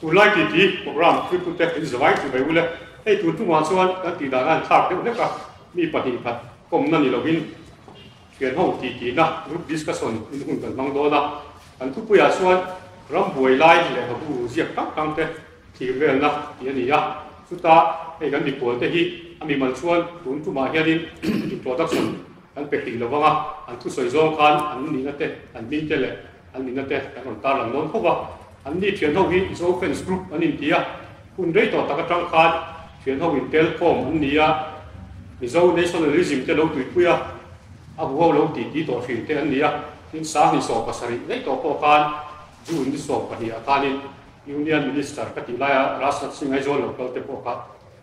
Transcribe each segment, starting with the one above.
Chu lai titi program thluipute in zovai chu mai u le, hei tur chungah chuan kan tih dana in thlak deuh hlek a, mi pahnih khat kawmna ni lovin thian ho tih tihna, group discussion, in hun kan hmang dawn a, kan thupuiah chuan ram buai lai leh ha buru ziak hrang hrang te thlir velna tih a ni a, chuta hei kan mipual te hi a mimal chuan tun tumah hianin introduction kan pe hrilh lo vang a, an thusawi zawng khan an nihna te, an hming te leh. An mitna te kan rawn tarlang dawn khawp a, an ni thian ho hi Mizo Friends Group an inti a, hun rei tawh tak atang khan thian ho intel khawm an ni a, Mizo Nationalism te lo tuipui a, a hu ho lo titi tawh hrin te an ni a, tin Sangni sawm pasarih rei tawh pawh khan June ni sawm pahnih ah khanin Union Minister ka tih lai a Rajnath Singh Aizawl lo kal te pawh kha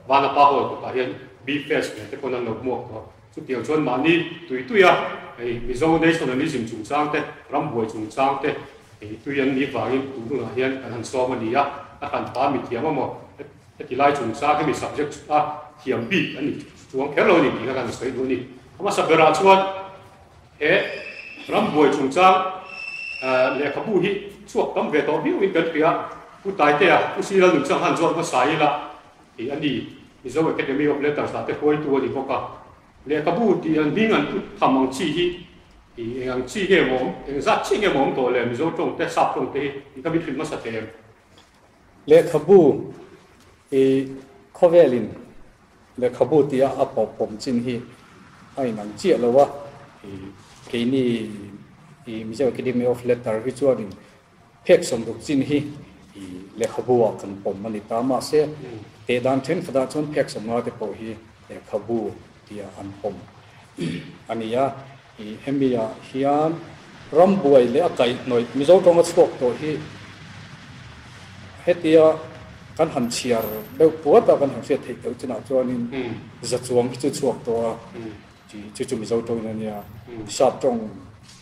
Vanlapa Hall kawtah hian Bee Fest nen te pawn an lo hmuak tawh. Chutiang chuan mahni tui tuia hei Mizo nationalism chungchang te, ram buai chungchang te hei tui an nih vangin tun hunah hian kan han sawm a ni a, a kan pha mithiam emaw heti lai chungchang hemi subject a thiam bik a ni chuang kher lo a ni tih kha kan sawi duh a ni. A hmasa berah chuan he ram buai chungchang lehkhabu hi chhuak tam ve tawh viau in kan hria, Pu Taiteah, Pu Silalnuchang han zawt hmasa ila tih a ni. Mizo Academy of Letters ah te huaitu a ni bawk a, Lehkhabu tih an hming an put tham ang chi hi i eng ang chi nge mawm, eng zat chi nge mawm tawh le, Mizo tawng te, Sap tawng te hi i ka mit hlim hmasa hle em? Lehkhabu i khawvel in Lehkhabu tih a a pawp pawm chin hi a in ang chiah lo a, i keini i Mizo Academy of Letter hi chuan in Phek sawmruk chin hi lehkhabuah kan pawm a ni ta, mahse, teh dan thenkhatah chuan phek sawmnga te pawh hi lehkhabu tia an pawm a ni a. Hemi ah hian rambuai leh a kaihhnawih Mizo tawnga chhuak tawh hi hetia kan han chhiar deuh puat a, kan han hriat theih deuh chinah chuanin za chuang hi chu chhuak tawh a, chu chu Mizo tawn ania sap tawng.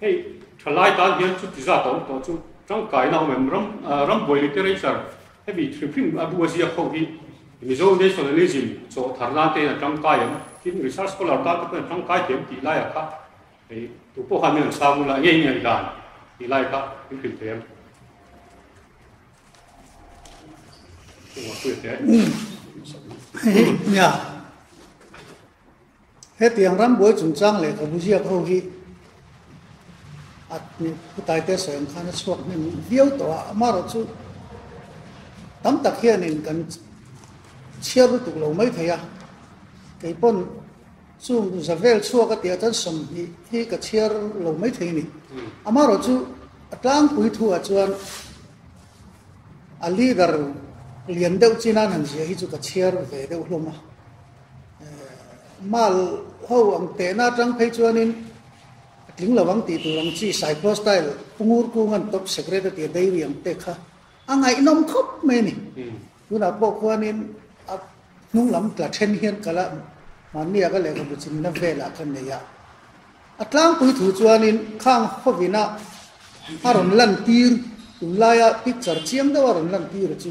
Hei thalai tan hian chuti zat a awm tawh chu tangkaina awm em ram rambuai literature hemi hrim hrim a bu a ziak ho hi Mizo nationalism chaw thar nan te a tangkai em tin research scholar tan te pawh a tangkai thiam tih lai a kha hei tu pawh han an sang la ngei ngei dan tih lai kha in hrim thiam Hei, yeah. Hetiang rambuai chungchang leh ka bu ziak ho hi a khutaite sawi ang khan a chhuak hnem viau tawh a, amarawh chu tam tak hianin kan chhiar lutuk lo mai thei a, keipawn chung u za vel chhuak a tia chuan sawmhnih hi ka chhiar lo mai thei ni. Amarawh chu a tlangpui thuah chuan a leader lian deuh chin a han ziah hi chu ka chhiar ve deuh hlawm a. Mal ho ang tehna atang phei chuanin a tling lo ang tih tur ang chi Cyprus style pungur kung an top secret atia dairy ang te kha a ngaihnawm khawp mai a ni. Tunah pawh khuanin a hnunglam tla then hian kala hmanni a ka lehkhabu chinna velah ka nei a. A tlangpui thu chuanin khang hovina a rawn lantir tum laia picture chiang deuha rawn lantir chu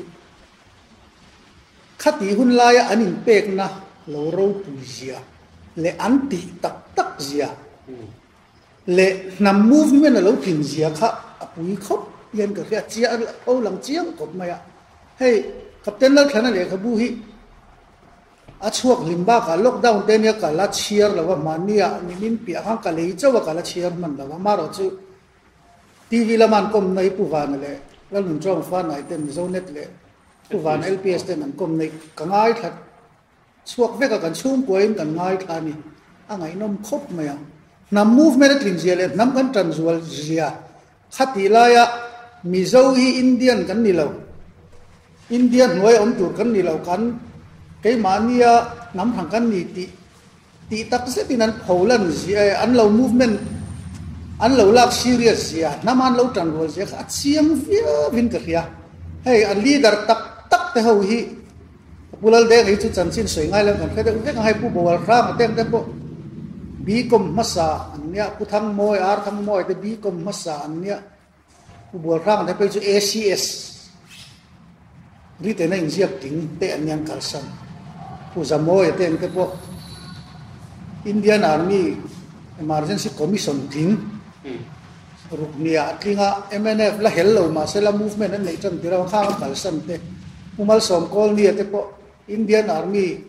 Khati hun laia an inpekna lo ropui zia leh an tih tak tak zia leh hnam movement a lo thin zia kha a pui khawp hian ka hria chiah a rilh kho lang chiang khawp mai a. Hei Captain Lalthlana lehkhabu hi a chhuak hlim bakah lockdown te ania ka la chhiar lo a, mahnia min inpiah khan ka lei chauh a ka la chhiar hman lo a, marawh chu TV lama an kawm na hi Pu Vana leh Lalnun Chawngfana-i ten Mizo Net leh Pu Vana LPS ten an kawm na hi ka ngaithla chhuak vek a, kan chhungkuain kan ngaithla a ni. A ngaihnawm khawp mai ang. Hnam movement a tlinzia leh hnam kan tanzual zia kha tih laia Mizo hi Indian kan ni lo, India hnuaia awm tur kan ni lo, kan keimahnia hnam hran kan ni tih Tih tak zet in an pho lan zia e, an lo movement an lo lak serious zia, hnam a an lo tan rual zia kha a chiang viau in ka hria. Hei a leader tak tak te ho hi Pu Laldeng hi chu chanchin sawi ngai lam kan hre deuh vek ang, hei Pu Bawalhrang a teng te pawh Bicom hmasa an nia, Pu Thangmawia, Ar Thangmawia te Bicom hmasa an nia. Bualrang te pawh chu ACS ri tena inziak ting te an ni ang kalsan Pu Zamoe ten te pawh Indian Army Emergency Commission tin ruknia a tling a MNF la hel lo mahse la movement an neih tan tih rang khang kalsan te Pu Malsawm Colney te pawh Indian Army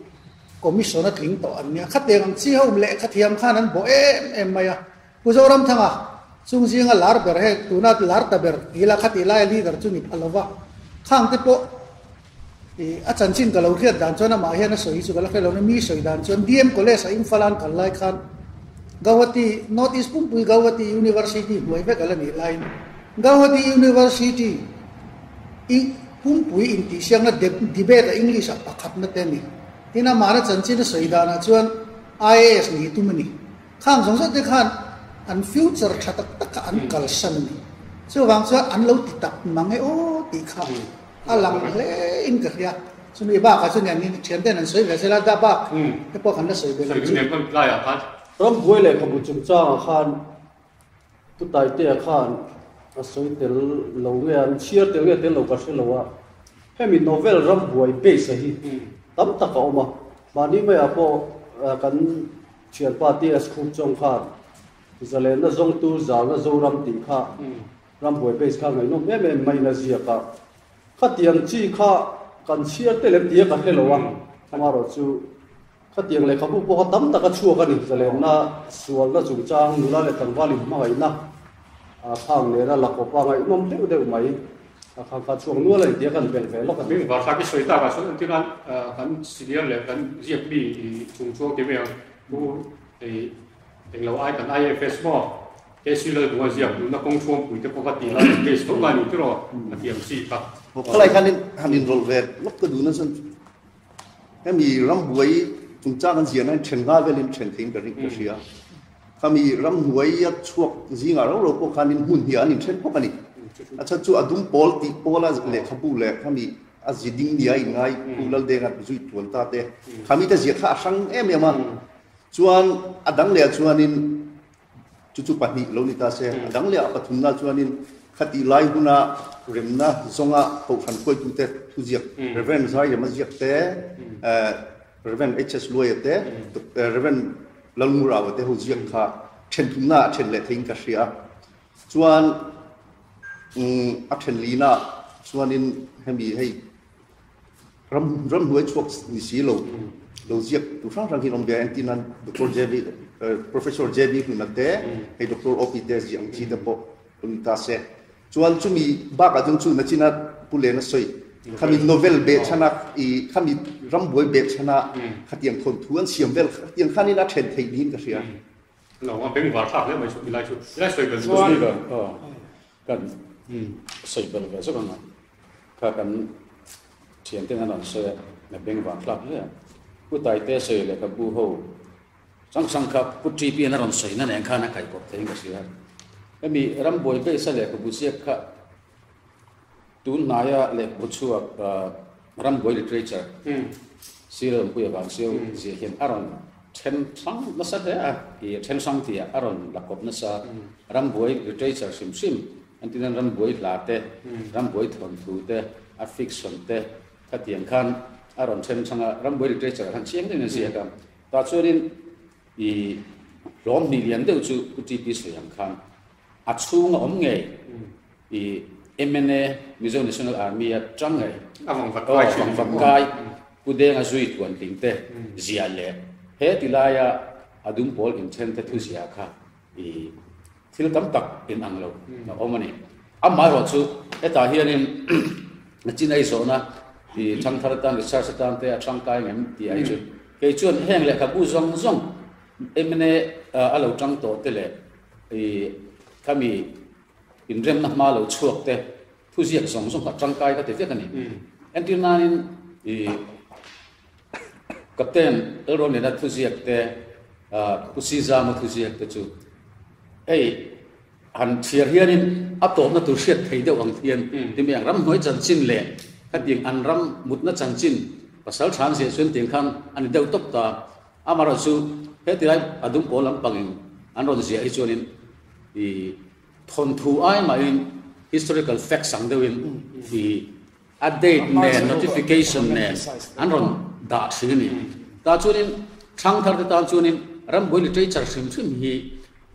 Commission a tling tawh an nia khateng ang chi ho um leh khathiam khan an bawh em em mai a Pu Zoramthanga chung zinga lar ber he tuna lar ta ber ti ila kha tih laia leader chu ni pha lo va, khang te pawh i a chanchin ka lo hriat dan chuan amah hian a sawi hi chu ka la hre lo nen mi sawi dan chuan DM college a Imphal a'n kal lai khan Gauhati North East pumpui Gauhati University hmuai vek ala nih laiin Gauhati University i pumpui intihsiakna debate a English ah pakhatna te a ni tin amahna chanchin a sawi danah chuan IAS ni hi tum a ni. Khang zawng zawng te khan an future tha tak tak kha an kalsan a ni. Chuvang chuan an lo ti tak mang e aw tih kha a lang hle in ka hria. Chumi bakah chuan niang in thiante'n an sawi ve zel a, dah bak te pawh kan la sawi ve lo chu. Rambuai lehkhabu chungchangah khan Pu Taiteah khan a sawi tel lo nge a, an chhiar tel nge tel lo ka hre lo a. Hemi novel Rambuai base-a hi tam tak a awm a. Mahni maiah pawh kan. Thianpa TS Khuk Chawng kha Zalenna zawngtu Zalna Zoram tih kha Rambuai base kha ngaihnawm em em mai na ziak a, khatiang chi kha kan chhiar te lem tia ka hre lo a, amarawh chu khatiang lehkhabu pawha tam tak a chhuak a ni. Zalenna sualna chungchang nula leh tlangval inhmangaihna a khang nena lakawpa ngaihnawm deuh deuh mai. A khang kha chhuak nual a ni tia kan belh ve lawk a ni. Var kha te sawi takah chuan an tihna kan senior leh kan ziak mi chung chu kemi ang chu hei englo ai kan IFS maw KC Lalbunga ziak nunna kawng chhuampui te pawh va ti lai a case ho ngai ni tiraw a ti ang chi kha. Khawlai khan in han inrawlh ve lawk ka duhna chuan Hemi ram buai chungchang an ziahna in ṭhen nghal velin ṭhen theiin ka ring ka hria. Khami ram hnuaia chhuak zingah roro pawh khanin hmun hniah an inthen bawk a ni. A chhan chu a dum pawl tih pawla lehkhabu leh khami a zi ding nia inngai Pu Laldenga zui tuan ta te khami te ziah kha a hrang em em a. Chuan a dang leh ah chuanin. Chu chu pahnih lo ni ta se, a dang leh a pathumna chuanin khati lai hmuna remna zawnga kohhran khuaitute thuziak Rev. Zai Rema Ziak te, Rev. HS. Luaia te, Rev. Lalmu Raua te ho ziak kha then thumna a then leh theiin ka hria. Chuan a then lina chuanin hemi hei Ram ram hnuai chhuak ni si lo lo ziak tur hrang hrang hi an awm ve a, engtin an Doctor JB Professor JB Hnuinak te, hei Doctor OP te zia ang chi te pawh kan ui ta se. Chuan chumi bakah chuan chu nachina Pu Lena sawi khami novel beh chhanak i khami rambuai beh chhana khatiang thawn thu an siam vel khatiang khan in a then thei niin ka hria. Alo awm a, beng var thlak hle mai chu milai chu, milai sawi ber chu ka hria. Kan sawi belh ve zawk ang a, kha kan thianten a rawn sawi a, na beng vang thlak hle a, Pu Taite sawi leh ka bu ho hrang hrang kha Pu Ti Piana rawn sawi na nen khan a kaihpawp thei ang ka hria, hemi Rambuai kaisa leh ka bu ziak kha Tun hnaia lehkhabu chhuak Rambuai Literature sir lawmpuia vang chu zia hian a rawn then hrang nasa hle a, ih then hrang tia a rawn la kawp nasa. Rambuai Literature hrim hrim an ti nan Rambuai hla te, Rambuai thawnthu te, a fiction te khatiang khan a rawn then hrang a, Rambuai Literature han chiang deuhin an ziak a. Tah chuanin ih hlawm hnih lian deuh chu U Ti Pi Sawi ang khan A chhung a awm ngei i MNA, Mizo National Army, a ṭang ngei. A vang vat kai thin. Vang vat kai, Kudenga zui thuan tling te ziah leh he ti laia a dum pawl inthen te thu ziah kha i thil tam tak in ang lo a awm a ni. Amah erawh chu hetah hianin a chin aizawhna i thangthar atan, research atan te a ṭang kai ngem ti ai chu. Kei chuan heng lehkhabu zawng zawng MNA a lo ṭang tawh te leh, Hei khami inremna hma lo chhuak te thuziak zawng zawng kha tangkai ka ti vek a ni. Entir nanin i Captain Elronina thuziak te Kusizama thuziak te chu hei han thiar hianin a tawpna tur hriat thei deuh ang hian ti mai ang. Ramhnuai chanchin leh khatin an ram mutna chanchin pasal than zia chuan tiang khan a ni deuh tawp ta. Amaherawhte chu heti lai a dum pawl lampangin an rawn ziah hi chuanin i thawnthu ai mahin historical facts ang deuhin i a date nen notification nen an rawn dah thin a ni ta chuanin thang thar te tan chuanin rambuai literature hrim hrim hi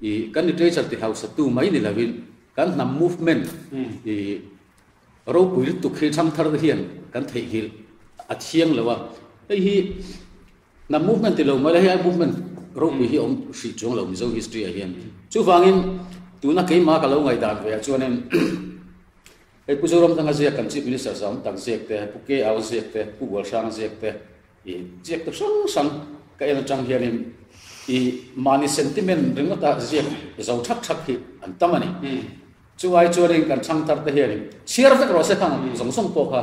i kan literature ti hausa tu mai ni lovin kan hnam movement i ropui lutuk khi thang thar te hian kan theihnghilh a thiang lo a hei hi Hnam movement ti lo mawle, hei movement rohpui hi a awm hrih chuang lo Mizo history-ah hian. Chuvangin tuna keimah ka lo ngaih dan ve ah chuanin hei Pu Zoramthanga ziak kan Chief Minister zawm tak ziak te, Pu Keau ziak te, Pu Gualhrang ziak te, i ziak te hrang hrang ka en atang hianin i mahni sentiment ringawt a ziak zo thak thak hi an tam a ni. Chuai chuanin kan thangtar te hianin chhiar vek rawh se thang zawng zawng pawh kha,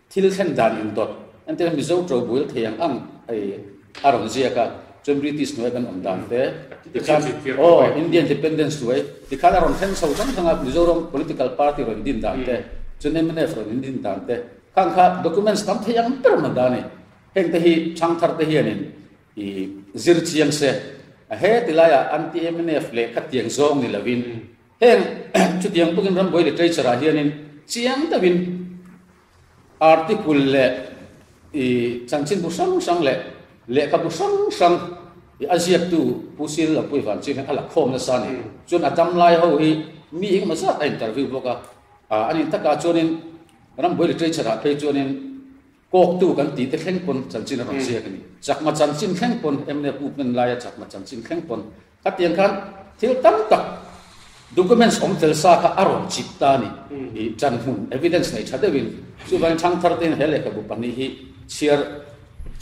Thil thlen dan in dawt an ti a, Mizo to buil thei ang ang hei a rawn ziak a, chuan British hnuaia kan awm dan te tikhan aw Indian Independence hnuai tikhan a rawn thlen chho thlang thlang a, Mizoram political party rawn din dan te chuan MNF rawn in din dan te kha ang kha documents tam thei ang ber hman dan a ni, heng te hi chhang thar te hian in i zir chiang se a, heti lai ah anti MNF lehkha tiang zawng ni lo in, Heng chutiang tukin Rambawi literature-ah hianin chiang deuhin article leh i chanchin bu hrang hrang leh lehkha bu hrang hrang i a ziaktu Pu Sir Lo Pui Van Ching hian a la khawm nasa a ni. Chuan a dam lai ho hi mi engemaw zat a interview bawk a. Anih taka chuanin Rambawi literature-ah phei chuanin Kawktu kan tih te thleng pawn chanchin a rawn ziak a ni. Chakma chanchin thleng pawn emne puknen laia chakma chanchin thleng pawn. Khatiang khan thil tam tak documents awm tel sa kha a rawn chip ta a ni. Chan hmun evidence nei tha deuhin. Chuvangin Thangthar tein he lehkhabu pahnih hi chhiar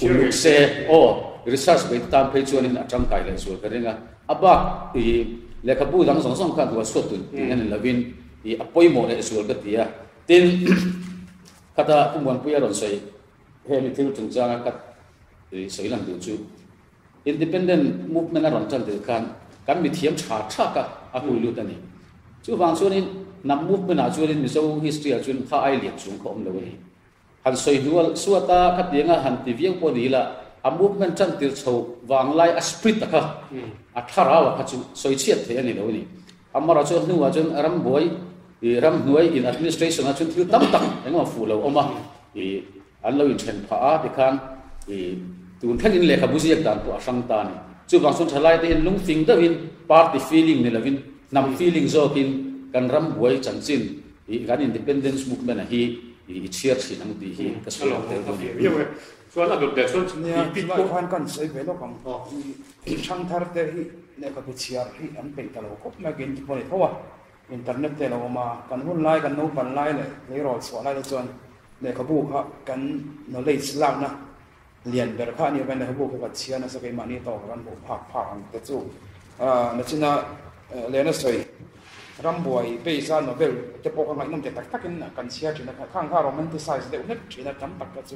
uluk se aw research bei ta tan phei chuanin a tangkai leh zual ka ring a. A bak lehkhabu dang zawng zawng kha a hnuaisuat tun tih hian in lovin a pawimawh leh zual ka ti a. Tin. Khata u Muanpui a rawn sawi, Hemi thil chung changa ka tui sawi lang tur chu, Independent Movement a rawn tan tir khan kan mithiam tha tha ka a hlui lut a ni. Chuvang chuanin Nam Movement ah chuanin Mizo history ah chuan kha ai liam chhung kha awm lo a ni. Han sawi dual suat a, khatianga han ti viau pawh ni la, a Movement tan tir chho vang lai a spirit a kha, a thlarau a kha chu sawi chhiat theih a ni lo a ni. Amara chu a hnungah chuan rambuai ih ramhnuai in administration ah chuan thil tam tak engemaw fuh lo awm a ih an lo inthen phah a tikhan ih tun thlengin lehkhabu ziak dan pawh a hrang ta a ni. Chuvang chuan thalai te hian lungtling deuhin party feeling ni lovin hnam feeling zawkin kan rambuai chanchin ih kan independence movement a hi ih i chhiar thin ang tih hi ka sawi lo tel bawk a ni. Chuan a dawt leh chuan chu nia chu lai khan kan sawi ve lawk ang i thangthar te hi lehkha ke chhiar hi an peih ta lo khawp mai ke inti pawh a ni tho a internet te a lo awm a kan hun lai kan naupang lai leh tleirawl chhuah lai te chuan lehkhabu kha kan knowledge lakna lian ber kha a ni avangin lehkhabu kha kan chhia nasa keimahni tawka kan hmuh phak phak ang te chu nachina lehna sawi rambuai peisa novel te pawh kha ngaihnawm te tak takin kan chhia thin a khang kha romanticize deuh hmet thin a tam tak kha chu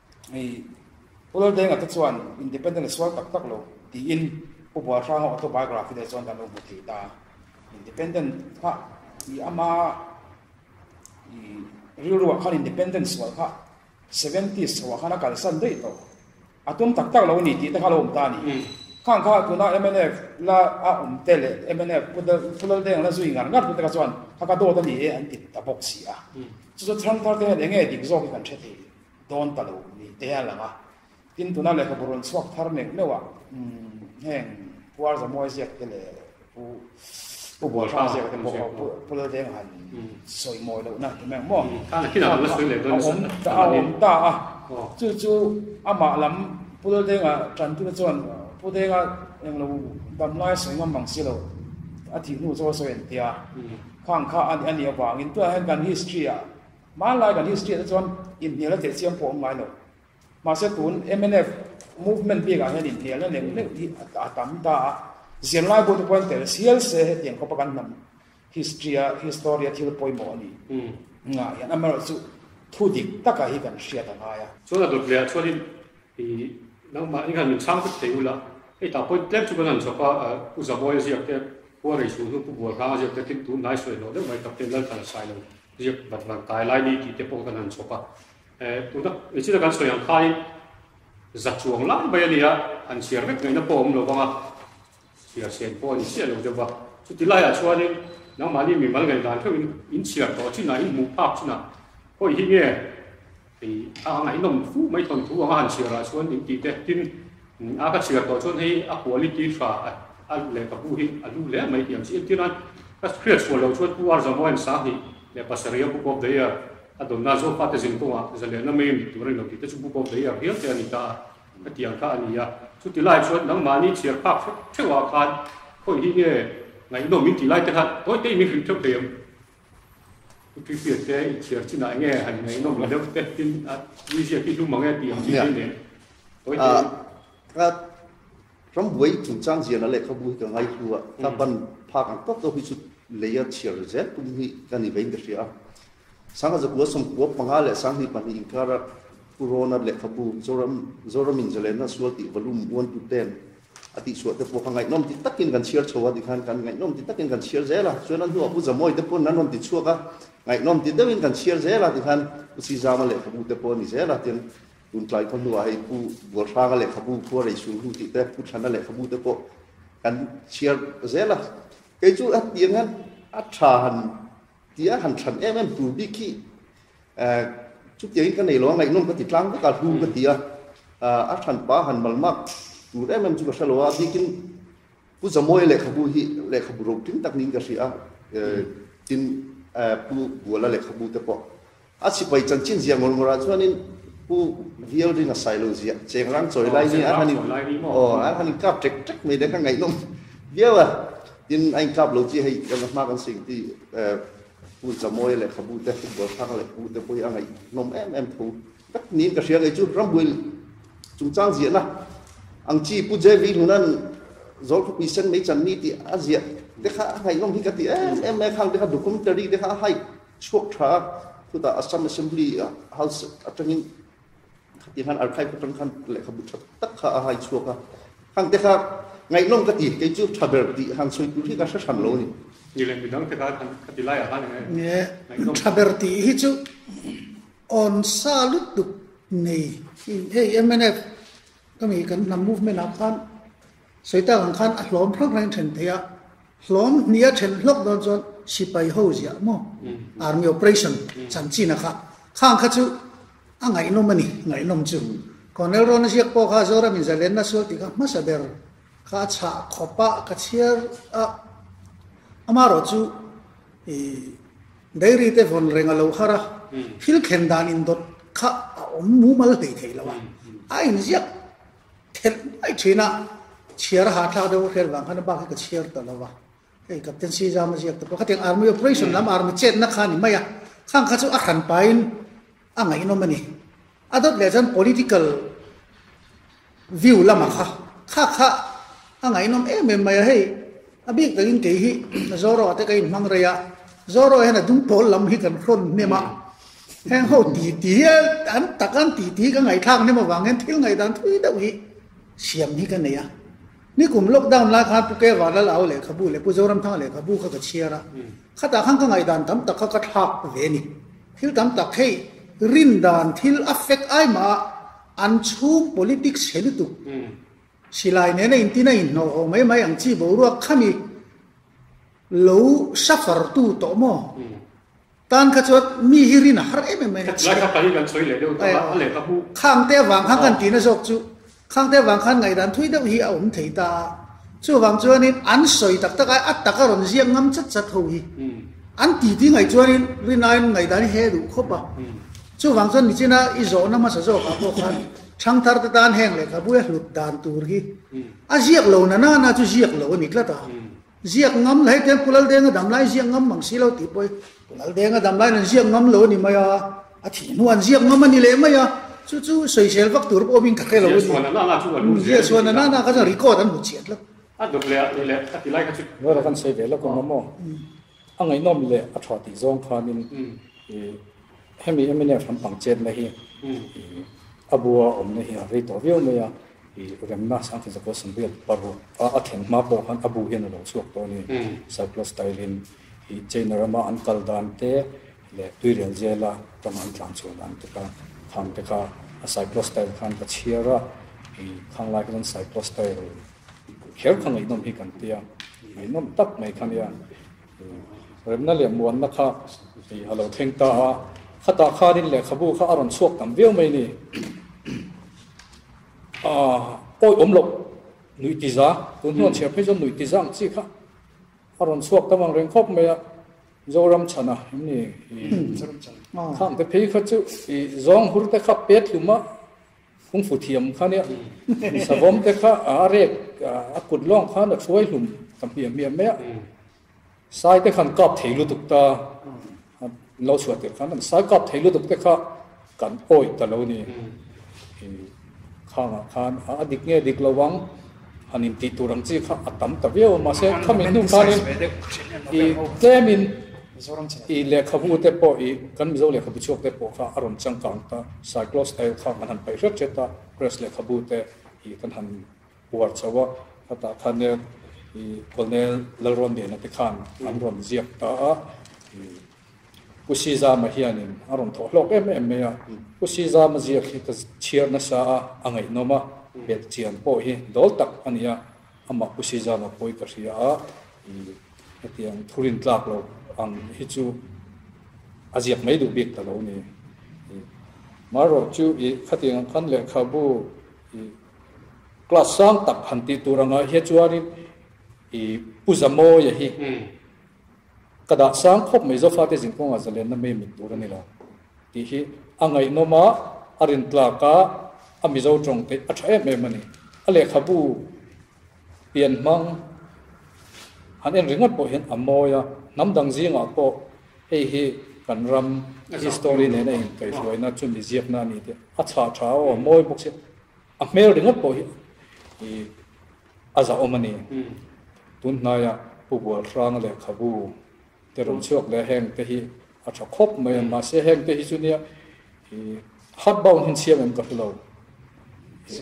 I Pu Laldenga te chuan independent a sual tak tak lo tiin Pu Bualhranga autobiography leh chuan dan lo hmu thei ta. Independent kha i ama i rilru ah khan independent sual kha seventy s chhoh ah khan a kalsan daih tawh. A tum tak tak lo a ni tih te kha a lo awm ta a ni. Kha ang kha tuna mnf la a awm te leh mnf Pu Laldenga la zui ngar ngar tu te kha chuan kha ka dawt a ni e an ti ta bawk si a. Chu chu Thlangthar te hian enge dik zawk hi kan hre thei? dawn ta lo ni te a lang a, tin tuna lehkhabu rawn chhuak thar neuh neuh ah heng Puar Zamuai ziak te leh Pu Pu Buahrang ziak te pawh pu pul veng han sawi mawi loh na hnu meng maw? A awm ta a awm ta a, chu chu amah lam pul venga tan tu te chuan Pu Denga eng lo dam lai sawi ngam ang si lo a tih hnu chu a sawi entia khang kha a nih avangin tunah hian kan history ah, Hmanlai kan history te chuan inhnial a teh chiang pawh a awm ngai lo. Mahse tun mnf movement bik ah hian inhnial na neuh neuh hi a tam ta a. Zirlai bu te pawh an tel sial se hetiang kawpa kan hnam history a history a thil pawimawh a ni ngah hian amaherawh chu thu dik tak ah hi kan hriat a ngai a. Chuan a dawt leh ah chuan in nang mah in han min chhang vek thei ula hei tah point tlem chu kan han chhawp a, Pu Zabawi a ziak te, Khuarei Suhnu, Pu Bualhnang a ziak te tlingtu hnai sawi hlawh deuh mai tak te Lalthar a sai lo. Riak vat vat kai lai ni tih te pawh kan han chhawp a. Eh, tuna engchin a kan sawi ang khain za chuang lai mai a nia, han chhiar vek ngaihna pawh a awm lo vang a, chhiar chhen pawh a ni chiah lo deuh a. Chuti laiah chuanin nangmahni mimal ngaih dan theuhin in chhiar tawh chinah, in hmuh phak chinah, hawi hi nge Hei a ngaihnawm fuh mai thawm thu anga han chhiar ah chuan in tih te tin a ka chhiar tawh chuan hei a quality fa a leh ka bu hi a hlu hle mai tih ang chi entir a ka hriat chhuah lo chuan pu Arzamoa in sang hnih leh pasarih a book of the year a dawn na zawk a te zin kawng ah zaleh na mai ni tur a ni lo tih te chu book of the year hial te a ni ta a ka tih ang kha a ni a chuti lai chuan nang mahni chhiar phak hreuh hreuh ah khan khawi hi nge ngaihnawm in tih lai te khan tawi te in min hrilh theuh thei ang. Pu Tihriat te in chhiar chin ah nge han ngeihnawm lo deuh te tin ah museum hi hlum ang e tih ang chi mai nen hawi te in. Kha rambuai chungchang ziah na lehkhabu hi ka ngaihlu a, kha ban phak ang tawk deuh hi chu lei a chhiar zel tum hi ka ni ve in ka hria a. Sangha Zakua sawmkua panga leh sanghnih pahnih inkara Purana lehkhabu Zoram Zoramin Zalenna Sual tih volume uantu ten A tihsuah te pawh kha ngaihnawm ti takin kan chhiar chho a, tikhan kan ngaihnawm ti takin kan chhiar zel a, chuan a hnua Pu Zamawi te pawn an rawn ti chhuak a, ngaihnawm ti deuhin kan chhiar zel a, tikhan Pu Chizama lehkhabu te pawh a ni zel a, tiang Tuntlai khaw hnuah hei Pu Bualhranga lehkhabu, Khuarei Sulhu tih te, Pu Thana lehkhabu te pawh kan chhiar zel a. Kei chu a tiang hian a tha han. Tia han chhan em em tur bik hi chutia in ka nei lo a ngaihnawm ka ti tlang vek a hlu ka ti a, a chhan pa han mal mak tur em em chu ka hre lo a, bik in Pu Zamawi lehkhabu hi lehkhabu rotling tak niin ka hria a, tin Pu Buala lehkhabu te pawh A sipai chanchin zia ngawr ngawrah chuanin pu Vialrin a sailo zia cheng rang chawi lai nia an han in kap ṭek ṭek mai le kha ngaihnawm viau a, tin a inkap lo chi hei kan hma kan seng chi Pu Chamawi leh Khabu te Football Thang leh Pu te pawhin a ngaihnawm em em tho vek niin ka hria ngei chu rambuai chungchang ziahna ang chi Pu Jevi hnunan Zawlkhawpui Sen Mei Channi tih a ziah te kha a ngaihnawm hi ka ti em em mai a khang te kha documentary te kha a hype Chhuak tha a, khutah Assam Assembly a hal set atangin khati han archive ka tang khan lehkhabu tha tak kha a hai chhuak a, hang te kha ngaihlawm ka ti, kei chu tha ber tih han sawi tur hi ka hre hran lo a ni. Ni leh midang te kha kan khati lai ah khan enge ngaihlawm? Tha ber tih hi chu awn sa lut lut nei. Hei MNF ka mi kan hnam movement ah khan Sawitak ang khan a hlawm hrang hrangin then thei a, hlawm hnih a then hlawk dawn chuan sipai ho ziah maw, army operation chanchinah kha khang kha chu a ngaihnawm a ni, ngaihnawm chu Colonel Rawna Ziak pawh kha Zoramin zalenna sual tih kha hmasa ber kha a chhah khawp a, ka chhiar a, ama rawh chu dairy te vawn reng a lo har a, thil thlen dan indawt kha a awm mumal hleithei lo a, a inziak. Thlen ngawih thin a, chhiar a hahthlak deuh hrel vang khan a bak hi ka chhiar ta lo va, hei Captaincy zam a ziak te pawh khatiang Army operation lam Army chetna kha a ni mai a, khang kha chu a hran pahin a ngaihnawm a ni. A dawt leh chuan political view lama kha kha kha a ngaihnawm em em mai a, hei A bik takin kei hi Zorro te ka inhmang rei a, Zorro hian a dung pawl lam hi kan hrawn hnem a, heng ho ti ti hi an tak an ti ti hi ka ngaihthlak hnem avang hian thil ngaidan thui deuh hi siam hi ka nei a. Nikum lockdown lai khan Pu Kevalal au lehkhabu leh Pu Zoramthanga lehkhabu kha ka chhiar a, khatah khan ka ngaidan tam tak kha ka thlak ve a ni. Thil tam tak hei rin dan thil affect ai mah a, an chhung politics he lutuk. Silai nena intin a inhnawihaw mai mai ang chi boruak kha mi lo safartu tawh maw? Tan kha chuan mi hi rin a har em em mai a chhiat. Lai kha pahnih kan sawi leh deuh tak a, a leh ka hmuh. Khangte avang khan kan tina zawk chu Khangte avang khan ngaihdan thui deuh hi a awm thei ta a, chuvang chuanin an sawi tak tak a, a tak a rawn ziak ngam chat chat ho hi an ti tingaih chuanin Rinaiin ngaihdan hi he a duh khawp a, chuvang chuan nichina i zawhna hmasa zawkah pawh khan Thangtharte tan heng lehkhabui a hlut dan tur hi a ziak lo na nana chu ziak lo a ni tlat a. Ziak ngam la, hetiang Kulaldeng a dam lai ziak ngam mang si lo tih pawhin Kulaldeng a dam laiin an ziak ngam lo a ni mai a, a thih hnu an ziak ngam a ni leh mai a, chu chu soisel vak tur pawh awmin ka hre lo a ni. Ziahsuan na nana chu kan hmu ziah a ni. Ziahsuan na nana kha chuan record an hmu chiah tlat. A dawt leh a ti leh a ti lai kha chu. Ngawi lo kan sawi ve lawk ang maw? A ngaihnawm leh a tha tih zawng khanin i. Hemi MNF lampang chetna hi a bua awmna hi a rei tawh viau mai a, remna Sangtin Zakua Samriat paruk a thlen hma pawh khan a bu hian a lo chhuak tawh a ni. Cyclone style in China rama an kal dan te leh tuirial zela rama an tlan chhuah dan te kha tham te kha a cyclone style khan ka chhiar a, khang lai kha chuan cyclone style kher kha ngaihnawm hi kan tia, ngaihnawm tak mai kha nia. Remna leh muanna kha ih a lo thleng ta a, khatah khanin lehkhabu kha a rawn chhuak tam viau mai ni. Aah, awi awm loh, nuih tiza, tun hnu an chhiar phei chuan nuih tiza ang chi kha a rawn chhuak tam ang reng khawp mai a, Zoramchhana em ni? Zoramchhana kha ang te phei kha chu ih zawng hur te kha pet hlum a, Kung fu thiam kha nia savawm te kha a rek a kut lawng khan a thuai hlum ka hmiam hmiam mai a sai te khan kap thei lutuk ta lo chhuat te khan sai kap thei lutuk te kha kan oi ta lo ni khang khan a dik nge dik lo wang An intih tur ang chi kha a tam ta viau. Mahse, khami hnu khanin i tlemin i lehkhabute pawh i kan Mizo lehkhabu chhuak te pawh kha a rawn changkang ta. Cyclo style kha an han paih hret hret a, press lehkhabute i kan han puar chauh a. Hetah khan i Colonel Lalrawngnehna te khan an rawn ziak ta a. Pu Sizama hianin a rawn thawh hlawk em em mai a. Pu Sizama ziakhita chhiar nasa a a ngaihnawm a belh chian pawh hi dawl tak a ni a, amah Pu Sizama pawi ka hria a, i hetiang thurin tlak lo ang hi chu a ziak mai duh bik ta lo ni. I Mar rawh chu i khatiang ang khan lehkhabu i class sang tak han tih tur anga hia chuanin i Pu Zamoia hi, Ka dah sang khawp mai zo fate zin kawngah zalenna mei mut tur a ni lo tih hi a ngaihnawma a rin tlak a, a mizo tawng theih a tha em em a ni. A lehkhabu pian hmang han en ringawt pawh hian a mawi a, hnam dang zingah pawh hei hi kan ram history nena inkaihhruaina chumi ziakna a ni tih a chhah tha aw a mawi bawk si. A hmel ringawt pawh hi A zahawm a ni. Tun hnaia Pu Bualhranga lehkhabu te rawn chhuak leh a heng te hi a tha khawp mai a, mahse heng te hi chu nia i hard bound hi chhiam em ka hre lo.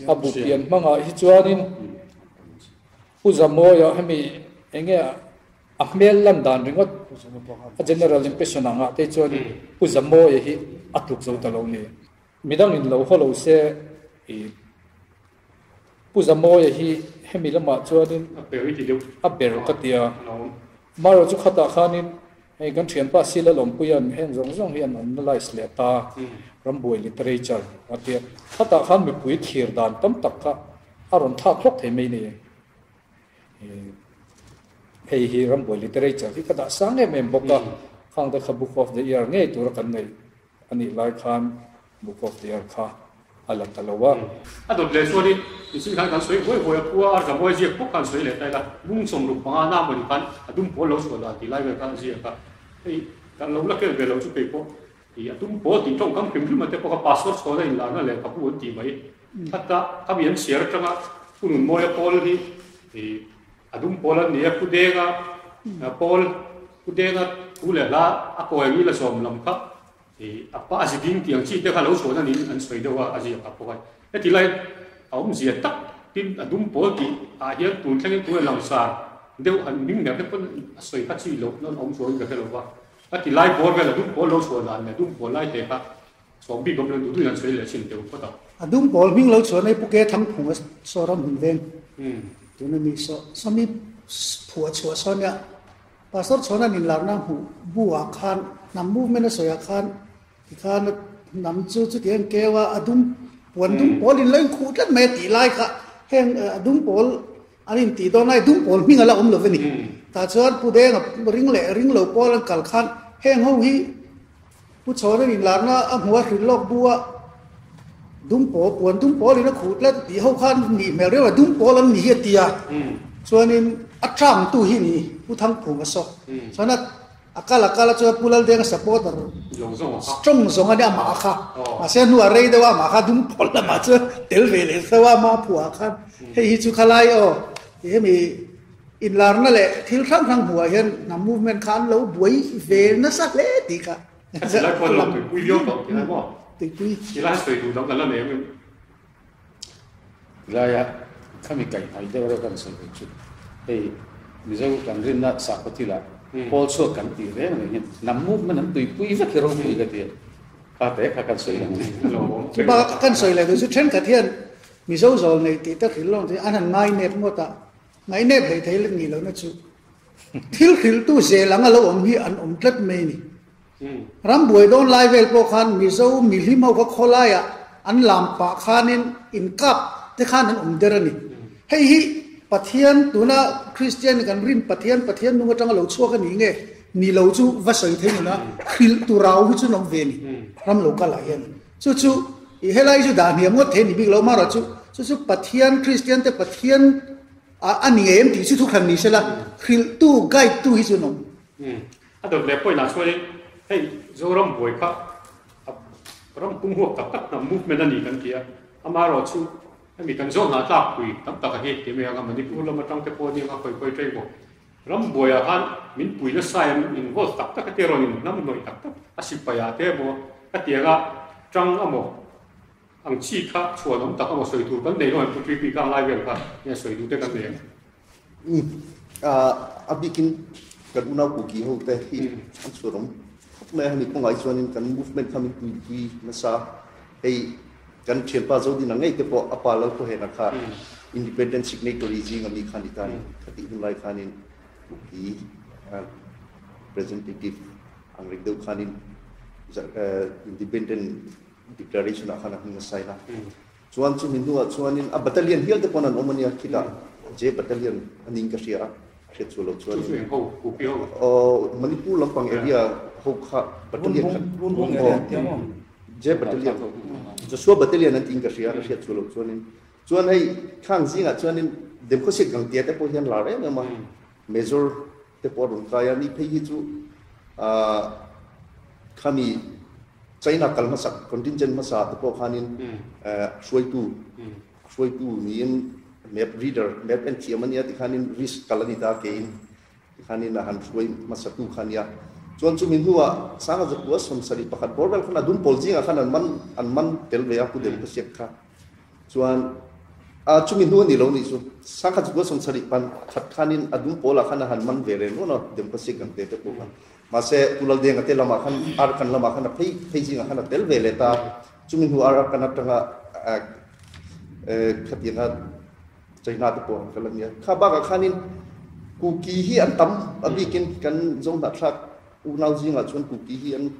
A bu pian hmangah hi chuanin Pu Zamoia hemi enge a hmel lan dan ringawt a general impression a ngah te hi chuanin Pu Zamoia hi a tluk zo ta lo ni. Midangin lo haw lo se i. Pu Zamawia hi hemi lamah chuanin a ber ti deuh, a ber ka ti a, marawchu khatah khanin hei kan thianpa Sila Lawmpuia'n heng zawng zawng hian analyse leh ta, rambuai literature a ti a, khatah khan mipui thlir dan tam tak kha a rawn thlak hlawk thei mai nia, hei hi rambuai literature hi ka dahsang em em bawk a, Khangte kha Book of the Year ngei tura kan ngaih. A nih lai khan Book of the Earth kha a la ta lo a. A dawt leh chuan i insih khan kan sawi huai huai a, khua arza buai ziak pawh khan sawi leh ta ila, mung chawm ruk panga na mawni khan a dum pawl lo chhuah dan tih lai vel khan a ziak a, hei kan lo la kel ve lo chu kei pawh i a tum pawl tih tawngkam hrim hrima te pawh kha pastor chhuahna inlahna leh ka bu an tih mai, khata khami an chhiar atanga hun hun mawia pawl hi i. A dum pawl an ni a, khudenga pawl, khudenga thu leh hla a kawi ang i la sawm lam kha a pah a zi ding tih ang chi te kha lo chhuahna niin an sawi deuh a, a ziah tak bawk a ni. Hetilai a awm zia tak tin a dum pawl tih ah hian tun thleng in tunah langsar deuh han hming hmel te pawn a sawi kha chi loh nawn a awm chuang in ka hre lo va. Ka tilai bawr vel a dum pawl lo chhuah dan leh a dum pawl lai te kha Chhuak bik awmlo duh duh hian chhawih leh a chhin teuh phawt a. A dum pawl hming lo chuan ei pu ke thang phung a saw ram hun veng tun a ni saw. Sami phu a chhuah saw nia Pastor Chhonan in lakna a hmuh bu ah khan hnam movement a sawi ah khan ti khan a hnam chu chuti ang keu a a dum puan dum pawl in lo in khuh tlat mai a tih lai kha heng a dum pawl An intih dawn lai dum pawl hming a la awm lo ve ni. Tah chuan Pu Denga ring leh ring lo pawl an kal khan heng ho hi Pu Chhawreng inlarna a hmu a hrilh lawk bu a, dum pawl, puan dum pawl in a khuh tlat tih ho khan nih hmel riau a, dum pawl an ni hi a ti a. Chuanin a tlangtu hi ni Pu Thangphung a saw. Chuan a. A kal a kal a chuan Pu Laldenga supporter strong zawng a nia amah kha. Mahse a hnua rei deuha amah kha a dum pawl lamah chuan tel ve leh tho a, mah phuah ah khan hei hi chu khalai aw tih hemi inlarna leh thil hrang hrang hmuhah hian hnam movement kha an lo buai ve nasa hle tih kha. Tuipui. Helai a khami kaih hnai deuh reuh kan sawi ve chu hei Mizo kan rinna Sakawthila Pawl chhuak kan tih ve mai hian hnam movement an tuipui vek hi ropui ka tia kha te kha kan sawi ang ni. Kan sawi leh duh chu thenkhat hian Mizo zawl nei tih te hril lawng an han ngai nep ngawt a, ngainep hlei thei let nih lohna chu thil hriltu zel anga lo awm hi an awm tlat mai a ni. Ram buai dawn lai vel pawh khan Mizo mihlim ho kha khawlaia an lam pah khanin inkap te khan an awm der a ni. Hei hi Pathian, tuna Kristian kan rin Pathian, Pathian nung atanga lo chhuak a nih nge ni lo chu va sawi thei nuna hrilh tu rau hi chu an awm ve ni ram lo kal ah hian. Chu chu ih helai chu dah hniam ngawt thei a ni bik lo amarawh chu chu chu Pathian, Kristian te Pathian a ni ngei em tih chu thu hran ni se la hrilh tu, guide tu hi chu an awm. A dawt leh point ah chuanin hei Zoram buai kha a ram pung huap tak tak hnam movement a ni kan ti a, amah erawh chu hemi kan zawk hnah tlakpui tam tak a hi ti mai ang a, Manipur lam atang te pawh a ni ang a hawi hawi ṭai bawk. Ram buai ah khan min puina sai an involve tak tak a te erawh a ni, hnam hnawih tak tak a sipai ah te emaw, hetianga ṭang amaw, Ang chi kha chhuan awm tak emaw sawi tur kan nei rawhin Putri Pika anglai vel kha nge sawi duh te kan nei ang? Ni a bikin kan unau Kuki ho te hi an chhuan awm khawp mai a, hemi kawngah hi chuanin kan movement kha min tuipui nasa a, hei kan thianpa Zodina ngei te pawh a pa Lalpawhena kha independent signatory zing a mi kha a ni ta a ni, khatih hun lai khanin Kuki representative ang reng deuh khanin independent Declaration ah khan a hming a sign a, chuan chumi hnuah chuanin a battalion hial te pawh an awm a nia, khitah J battalion a ning ka hria a, a hriat sual lo chuan in aww Manipur lampang area ho kha battalion khat aww J battalion Joshua battalion an tiin ka hria a, a hriat sual lo chuan in chuan hei khang zingah chuan in Demkhosiat gang tia te pawh hian lar em em a, Major Te pawh a rawn kai a, niphei hi chu aah khami China kal hmasa contingent hmasa te pawh khanin aah hruaitu hruaitu niin map reader map enthiam a nia tikhanin risk kal a ni ta keiin tikhanin a han hruai hmasatu kha a nia. Chuan chumi hnuah Sangazakua sawmsarih pakhat Border khan a dum pawl zingah khan an man an man tel ve a pu Delhi khawsiak kha. Chuan a chumi hnu a ni lo nih chu, sang khat chu a sawm sarih pan khat khanin a dum pawlah khan a han man ve reng nual a, Dempasek kan tih te pawh khan. Mahse, tu Laldiang a te lamah khan, Arkan lamah khan a phei phei zingah khan a tel ve let a, chumi hnu ar Arkan atanga khatianga chei hna te pawh a han kal a nia. Kha bakah khanin Kuki hi an tam a bikin kan Zohnahthlak unau zingah chuan Kuki hi an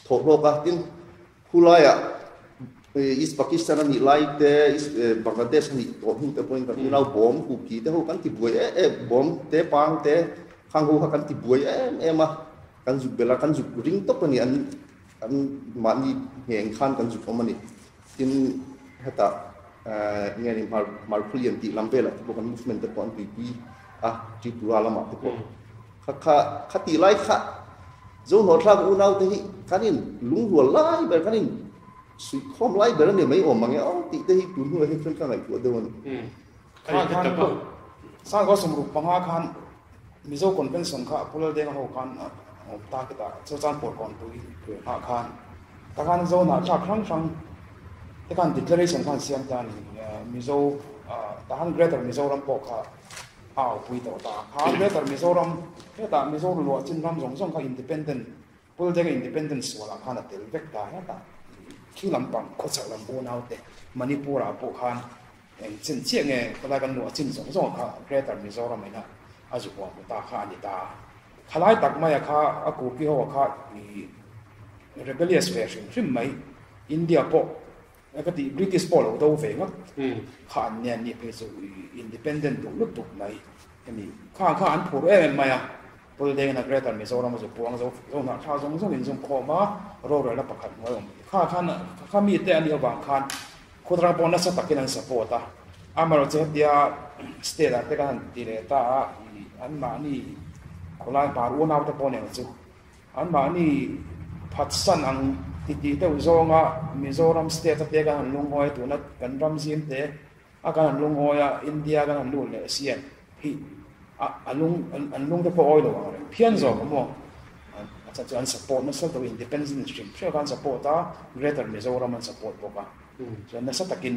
thawh hlawk a, tin Khulaia East Pakistan a nih lai te, East Bangladesh a nih tawh hnu te pawhin kan ri lau, bomb kuki te ho kan ti buai em em, bomb te pang te khang ho kha kan ti buai em em a, kan zuk bela kan zuk ring tawp a ni, an an mahni ngheng khan kan zuk awm a ni. Tin heta nge ni Hmarkhulian tih lam velah te pawh kan movement te pawh an tuipui a, Tripura lamah te pawh. Kha kha kha tih lai kha Zo Hnawthlak unaute hi kan in lungrual lai ber, kan in suihkhawm lai ber a ni, mei awm ang e awh tih te hi tun hnuah hi khan ka ngaihtuah deuh a ni. Kha khan ka sang kha sumruk panga khan Mizo Convention kha a pu lal deng a ho khan a awm ta khitah chu chuan Pawlkawnpui ve nghah khan ta khan Zo Hnawthlak hrang hrang te khan Declaration khan siam ta a ni. Mizo ta khan Greater Mizoram pawh kha A upui tawh ta a kha greater Mizoram heta Mizo ruluah chinram zawng zawng kha independent Pul Dega independent sual ah khan a tel vek ta het a khi lampang khaw chhoh lam unau te Manipur ah pawh khan eng chin chiah nge khawlai kan hmuh a chin zawng zawng kha greater Mizoram in a a zu huam pu ta kha a ni ta khalai tak mai a kha a kupi ho a kha rebellious ve hrim hrim mai India pawh Ka tih British pawh lo do ve ngawt kha an nia mi phei chu independent duh lut duh mai hemi khan kha an phur em em mai a, Building a Greater Mizoram a zupuang zo zo hnah thla zawng zawng in zungkhawm a, rorel a pakhat hnuai awm te kha khan kha mi te a nih avang khan khudrang pawh nasa takin an support a, amaherawhchu hetia state ah te kan han ti leh ta a, i anmahni khawlai hma ruanau te pawh nen chu. Anmahni phatsan ang ti tih deuh zawnga Mizoram state a te kan han lungngawi tuna kan ram zim te a kan han lungngawi a, India kan han lut leh a siam hi a a lung an lung te pawh awi lo ang reng phian zawk a maw a chhan chu an support nasa tawh independence hrim hrim kha an support a Greater Mizoram an support bawk a chuan nasa takin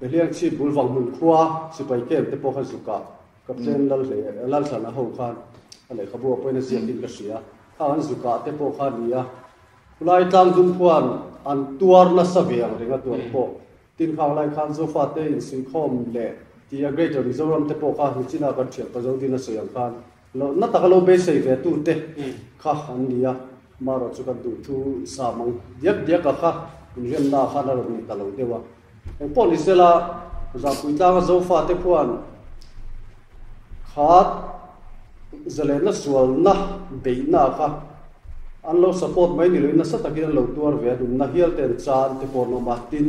Beliang chhip bul vang hmun khua sipai camp te pawh kha zukah Captain Lal hle Lalhlana ho khan a lehkhabu a pawi na ziak in ka hria a, kha an zukah te pawh kha ni a, khulai tlang dum khuan an tuar nasa ve ang reng a tuar pawh tin khang lai khan Zofa te insuihkhawm leh tia Greater Mizoram te pawh kha hnuchina kan thianpa zo dina sawi ang khan Lohna taka lo beisei ve tu te kha an ni a, marawh chu kan duh thu i sa mang diak diak a kha inremna ah khan a rawn ni ta lo deuh a. Eng pawh ni sela Zahpui tlanga Zofa te khuan khat ze lehna sualna beihna ah kha an lo support mai ni loin nasa takin an lo tuar ve a, dumna hial ten chan te pawh an awm a, tin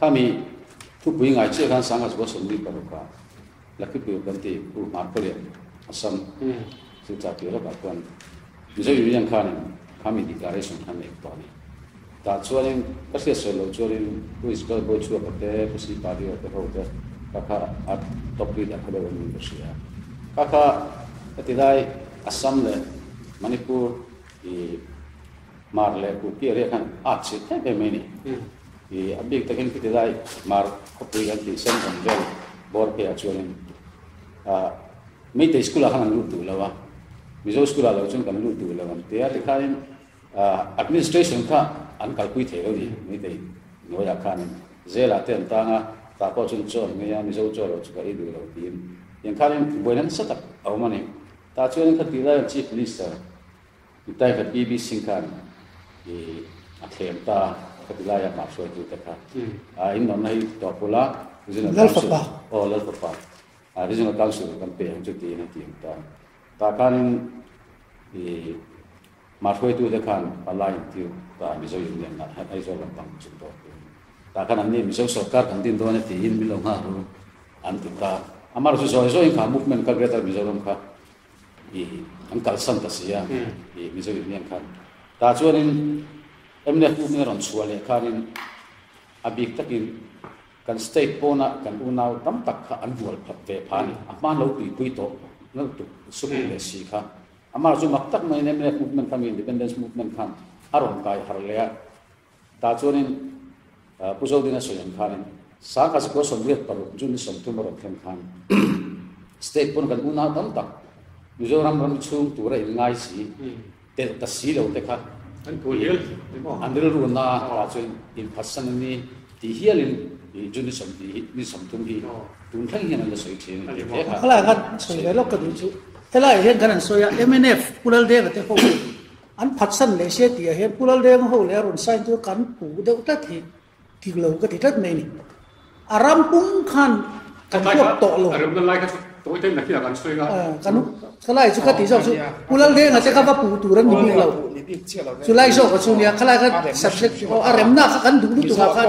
Khami thupui ngai chiah hian sanga chu a sawn mi paruk a Lucky Pui kan ti Pu Hmar Khawlian a sam. Chu tla tih rawkah chuan Mizo Union khanin Khami Declaration khan a ik tawh a ni. Tah chuanin ka hriat sawi lo chuanin Pu Isbel Bawi Chhuaka te, Pu Sipa Rio te ho te kha kha a top leader kha deuh angin ka hria a. Kha kha hetilai Assam leh Manipur i Hmar leh Kuki eria khan a ak chhit thei ve mai a ni. I a bik takin khiti lai mar khawpui kan tih sem awm vel bawr phei ah chuanin ah meitei school ah khan an lut duh lo a mizo school ah lo chuan kan lut duh lo an ti a tikhain ah administration kha an kalpui thei lo ni meitei hnuai ah khanin zel ah te an tang a tah pawh chuan chaw ngei a mizo chaw lo chu ka ei duh lo tiin engkhanin buaina nasa tak a awm a ni tah chuan kha tih lai an chief minister Nitai khat PB Singh khan i a thlem ta a, khawtilai a mah hruaitu te kha a innuamna hi ti tawh pula Regional Council, aw Lalfapa, Regional Council kan pe ang chu tiin a ti ang ta a. Tah khanin i mah hruaitu te khan hmala intir ta a Mizo Union-ah hian Aizawl lampang a chhun tawh pawhin. Tah khan an ni Mizo sawrkar kan din dawn a tiin Milo Ngharu an ti ta a. Amarawhchu zawi zawi in kha Movement Kal Greater Mizoram kha i an kalsan ta si a i mizo in hian khan ta chuan in mnf uk in rawn chhuah leh khan in a bik tak in kan state pawn a kan unau tam tak kha an bual phat ve pha ni a hman lo tui pui tawh nau tuk suk leh si kha amar chu mak tak mai in mnf movement khan independence movement khan a rawn kai har leh a Tah chuanin Pu Zodina sawi ang khanin, Sangha Zikua sawmriat paruk June-i sawmthum a rawn thlen khan State pawn kan unau tam tak Mizoram ram chhung tura in ngai si telh ta si lo te kha an rilru na tah chuan in phatsan a ni tih hialin June-i sawmti hi, June-i sawmthum hi tun thleng hian an la sawi thin a ni tih kha. Khawlai khan sawi ve lawk ka duh chu, helaiah hian kan han sawi a, mnf Pu Lal Deva te ho hi, An phatsan leh se tih ah hian Pulal Reng ho leh a rawn sign tur kan puh deuh tlat hi dik lo ka ti tlat mai ni. A ram pum khan kan huap tawh lo. Kan lai chu ka tih zawk chu Pulal Reng ah te kha va puh tur an ni bik lo. Chu lai zawk ah chuan nia khalai kha subject a remna kha kan duh lutuk ah khan.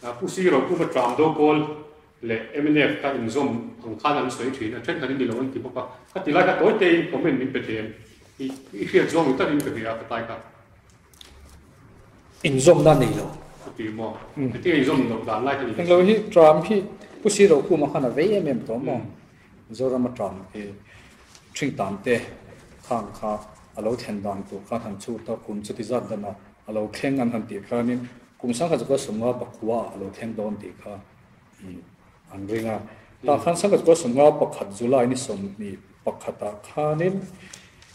Pu Siro, Pu Vatram do kawl leh mnf ka inzawm ang khan an sawi thin a, thenkhanin ni lo an ti bawk a. Ka ti lai kha tawi teiin comment min pe tlem. I i hriat zawng ni takin ka hria a ka tlai kha. Inzawm nan nei lo. Ka ti maw? Hetiang inzawm loh dan lai kha ni lo si. Englo hi Tram hi Pu Siro puma khan a vei em em tawh maw? Zoram atang hi ṭhing tan te khang kha a lo thlen dan tur khan han chhut a, kum chuti zat danah a lo thleng an han tih hianin kum sangha zakua sumnga pakhuaah a lo thleng dawn tih kha an ring a. Tah khan sangha zakua sumnga pakhat July ni sawmhnih pakhatah khanin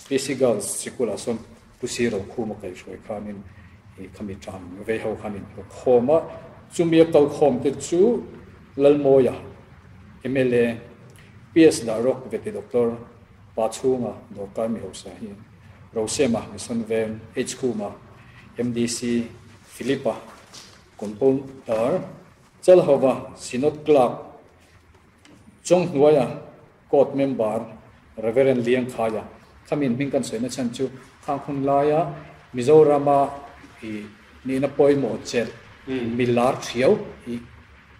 PC Girls Sikul ah sawn Pu Siro khum a kal hruai khanin, He khami tan vei ho khan in hlawk khawm a, chumi a kal khawm te chu Lalmawia mla PS dah rawk ve ti Doctor pa chhunga dawrkar mi hausa hi Rosema Misonven H khuma MDC Philippa Compounder Chal hova Synod Clerk chawng hnuaia Court member Reverend Liangkhaia khamin hming kan sawi na chhan chu khang hun laia Mizorama i nihna pawimawh chelh mi lar thiau i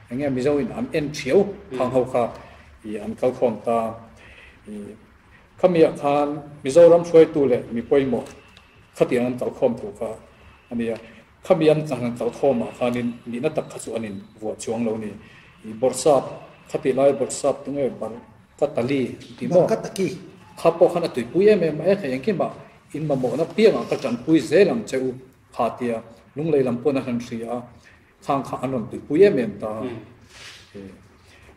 engnge Mizo in an en thiau khang ho kha i an kal khawm ta i khami ah khan Mizoram hruaitu leh mi pawimawh khatiang an kal khawm thu kha a nia. Khamian a nghan tlau thawm ah khanin nihna tak kha chu an in vuah chuang lo ni. I Borsap, kha tih lai Borsap tu nge Barkatali an ti maw? Barkataki. Kha pawh khan a tuipui em em a e thei engkim a, in mamawh na piang ah ka tanpui zel ang che u kha a ti a, Lunglei lam pawn a hlan hri a, khang kha an rawn tuipui em em ta a. I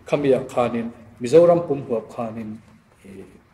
Khamiah khanin Mizoram pum huap khanin i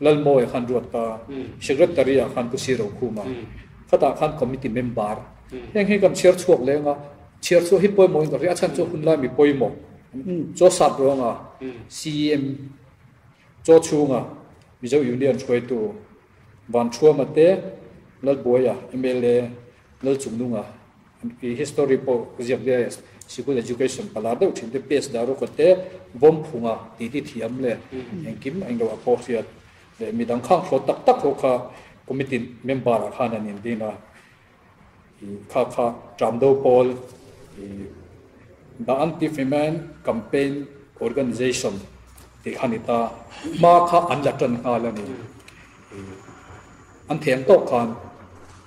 Lalmawia khan ruat ta, Secretary ah khan Pu Siro Khuma, Khata khan Committee Member. Heng hi kan chhiar chhuak leng a, chhiar chhuak hi pawimawh in kan hria a chhan chu hun lai mi pawimawh chaw sap ruang a, CEM chaw chhung a Mizo Union hruaitu Van Thruama te, Lalbuaia MLA Lal Chungnunga Khi history pawh ziak diai a sikul education pala deuh thin te page dah ru kawt te bawm phunga titi thiam leh engkim englo a pawh hriat leh mi dang khang thlawt tak tak ho kha committee member ah khan an in ding a i kha kha tram do pawl i the anti femen campaign organization tih kha ni ta hma kha an la tan nghal a ni i An theng tawk khan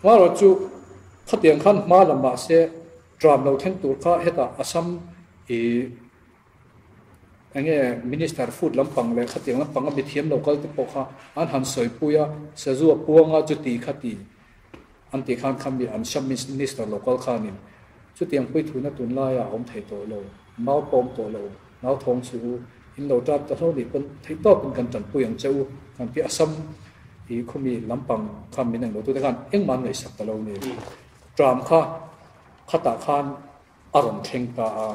Hmarawt chu khatiang khan hma la mahse Trump lo thleng tur kha heta Assam i enge Minister food lampang leh khatiang lampanga mithiam lo kalte pawh kha an han sawipui a, sazu a puang a chuti kha ti an ti khan khan mi Assam Minister lo kal khanin chutiang puithuna tunlaiah a awm thei tawh lo. Mau pawm tawh lo, mau thawng chhu u, in lo ṭan ta hlo nih pawn theih tawkin kan ṭanpui ang che u, kan pi a sam i khumi lampang kha min englo tute khan engmah an ngaihsak ta lo nia. Ṭam kha khatah khan a rawn thleng ta a,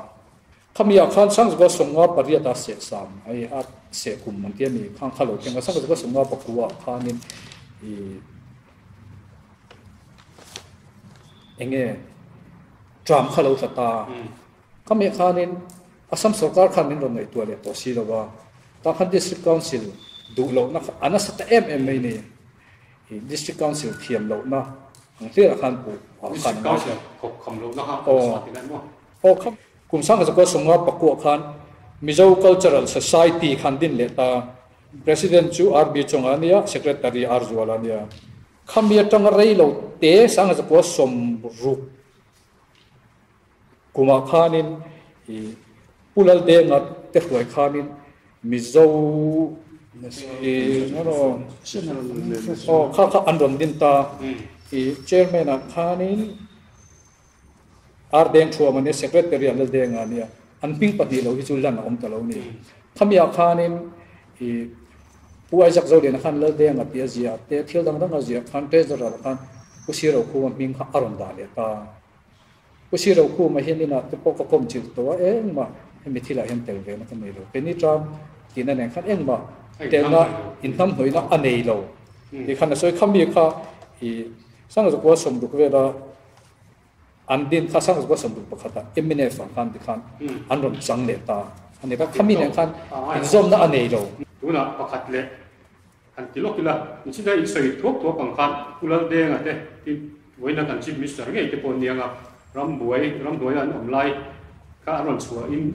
khami ah khan Sangzua sawngnua pariat a sehsam ai a seh kum an ti a ni, khang kha lo thleng a, Sangzua sawngnua paku ah khanin i eng nge ṭam kha lo tla ta. Khami khanin Assam sawrkar khan min rawn ngaihtuah leh tawh si lova, tah khan District Council duh lohna kha a nasa ta em em mai ni. Hi District Council thiam lohna ang hliah ah khan Pu Hua khan a ngaihtuah a. Hawkham lohna kha a nasa ti daih maw? Hawkham. Kum Sangha Zakua Sawmnga Pakuah khan Mizo Cultural Society khan din leh ta. President chu RB Chawng a nia, Secretary R Zual a nia. Khami atanga rei lo te Sangha Zakua Sawmruk Kumah khanin i Pu Lalde Ngat te hruai khanin Mizo i aw kha kha an rawn din ta i Chairman ah khanin Ardeng Thua mania Secretary ah Lalde Nga nia an hming pahnih lo hi chu lan a awm ta lo ni. Khami ah khanin i Pu Isaac Zoliana khan Lalde Nga tia ziah te thil dang dang a ziah khan Treasurer ah khan Pu Siro Khuma hming kha a rawn dah leh ta. Pu Sir Rokuma hian inah te pawh ka kawm chilh tawh a, engmah hemi thilah hian tel ve na ka nei lo, ke ni tan tih na nen khan engmah telna inhnamhnawihna a nei lo tih khan a sawi kha mi kha i Sangzawkua sawmduk vela an din kha Sangzawkua sawmduk pakhata Eminence vang khan ti khan an rawn chang leh ta a ni kha, khami nen khan inzawmna a nei lo. Tunah pakhat leh Kan ti lawk ila, Nchina in sawi thuak thuak ang khan Pu Laldenga te hi vawiina kan Chief Minister ngei te pawh nianga rambuai ramhnuaia an awm lai kha a rawn chhuah in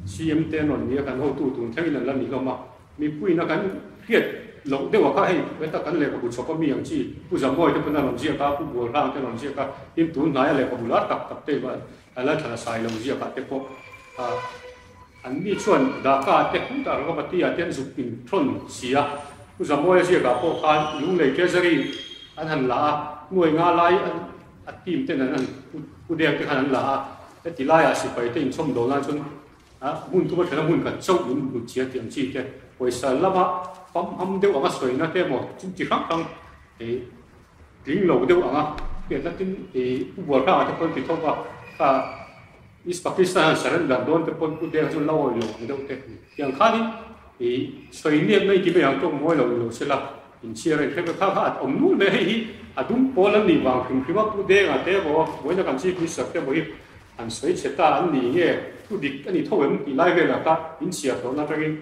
CM te an rawn ni a, kan hotu tun thlengin an la ni hlawm a, mipuina kan hriat loh deuha kha hei heta kan lehkhabu chhawpa mi ang chi Pu Zamuai te pawn a rawn ziak a, Pu Bualhlang te a rawn ziak a, tin tun hnaia lehkhabu lar tak tak te a la thlana sailo ziakah te pawh a. An ni chuan Dhaka te Uttar Ravatiya te an zuk in thawn si a, Pu Zamoya ziakah pawh khan Lunglei Treasury an han la a, hnuai nga lai a team ten an han pu dek te khan an la a, heti laiah sipai te inchawm dawn lai chuan hmun tuma thlen a hmun khat chauh in hmu chian tih ang chi te, pawisa lama pamham deuh anga sawina te emaw chu chi hrang hrang hei. Tling lo deuh ang a, hetiang na tin pu Bualhranga te pawhin ti thawk a, kha East Pakistan han surrender dawn te pawhin pu Deng chu la awih lo ang deuh teh ni. Tiang khan in i sawi miat mai ti mai ang tawk mawi lo ni lo se la, inchhiar a, inthleng ve kha kha a awm nual mai a, hei hi a dum pawl an nih vang hrim hrim a, pu Denga te emaw Buaina kan Chief Minister te emaw hi an sawi chhe ta an ni nge, thu dik a ni tho em tih lai velah kha inchhiar tawh na atangin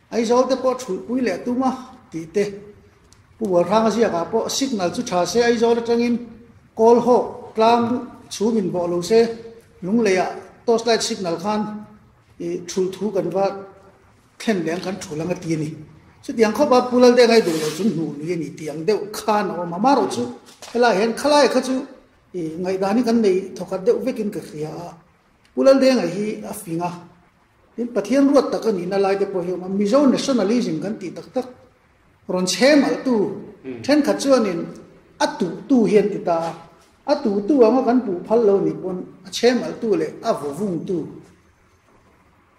Aizawl te pawh thulhpui leh tum a tih te. Pu Bualhranga ziakah pawh signal chu tha se Aizawl atangin kawl hawk tlang chhum in bawh lo se Lungleiah torch light signal khan ih thulh thu kan va thlen leh ang kan thul ang a ti a ni. Chutiang khawp a Pu Lalde ngai duh lo chu hnuh lui a ni tih ang deuh khan a awm a marawh chu helaiah hian khalaia kha chu ih ngaihdanin kan nei thawkhat deuh vekin ka hria a. Pu Lalde ngai hi a fing a. Tin, Pathian ruat tak a nihna laite pawh hi a awm a. Mizo nationalism kan tih tak tak, rawn chhe malhtu thenkhat chuanin a tuhtu hi an ti ta a. A tuhtu anga kan puh phal lo nih pawn a chhe malhtu leh a vawvungtu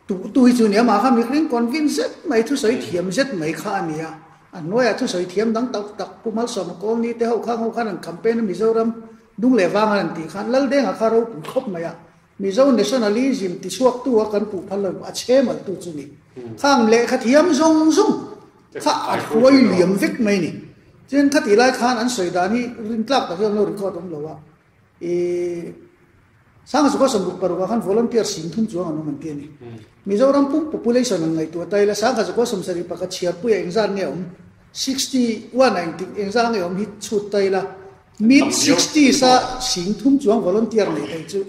tuhtu hi chu a ni a. Mahkha mihring convince zet mai, thusawi thiam zet mai kha a ni a. A hnuaiah thusawi thiam dang tak tak Pu Malsawma colony te ho khang ho khan an campaign a, Mizoram dung leh vang an an tih khan, Laldenga kha a ropui khawp mai a. Mizo Nationalism tichhuaktu a kan puhphal lo a che maltu chu ni. Khang lehkha thiam zawng zawng kha a hruai liam vek mai ni. Chuan khati lai khan an sawi dan hi rin tlak tak hi awm lo record awm lo a. I Sangha Sukhasawm ruk paruk ah khan volunteer sim thum chuang an awm an ti a ni. Mizoram pum population an ngaihtuah ta ila Sangha Sukhasawm sarih pakhat chhiarpuia engzat nge awm, sixty one a engtik engzah nge awm hi chhut ta ila Mid sixties a sing thum chuang volunteer nei thei chu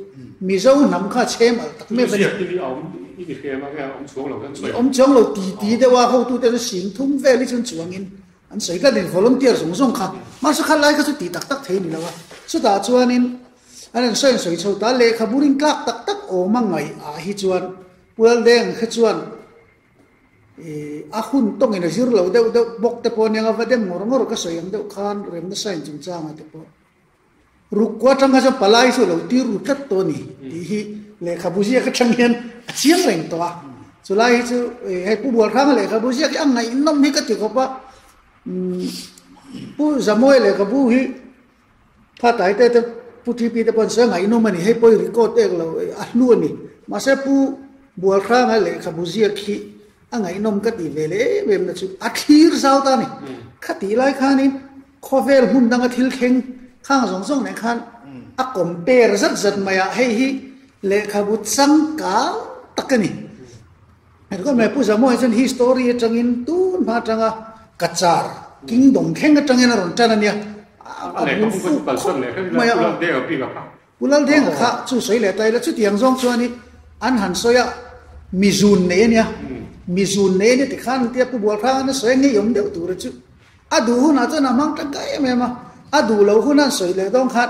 Mizo hnam kha chhe mal tak mek a ni. I awm chuang lo ti ti deuh a hotu te chu sing thum vel hi chuan chuang in an sawi tlat in volunteer zawng zawng kha. Mahse kha lai kha chu ti tak tak thei a ni lo a. Chutah chuan in an rawn sawi an sawi chho ta lehkhabu ring tlak tak tak awm a ngaih ah hi chuan Pulaleng kha chuan A hun tawngin a zir lo deuh deuh bawk te pawh nia anga va dem ngawr ngawr ka sawi ang deuh khan rem nasa in chung changa te pawh Rukhku atang kha chuan palai chu lo tir ru tlat tawh a ni tih hi lehkhabu ziak atang hian a chiang reng tawh a chulai hi chu hei Pu Bualhranga lehkhabu ziak hi a ngaihnawm hi ka ti khawp a Pu Zamoe lehkhabu hi Phataite te Pu TP te pawh an sawi a ngaihnawm a ni, hei pawh i record ek lo a hlu a ni. Mahse Pu Bualhranga lehkhabu ziak hi a ngaihnawm ka tih ve leh em em na chu a thlir zau ta a ni. Khatih lai khanin khawvel hmun danga thil thleng khang zawng zawng nen khan a compare zat zat maiah hei hi lehkhabu changkang tak a ni. Ka khawih mai Pu Zamuai chuan hi story atangin tun hma atanga ka char kingdom thleng atangin a rawn tan ania. A bul fuk khawp mai a. Pu Laldenga kha chu sawi leh ta ila chutiang zawng chuan i an han sawi a, mi zun nei ania, mi zun nei ania tikhan an tia Pu Bualhranga na sawi a ngei awm deuh tura chu. A duh hunah chuan a hmang tangkai em em a, a duh lo huna an sawi leh dawn khan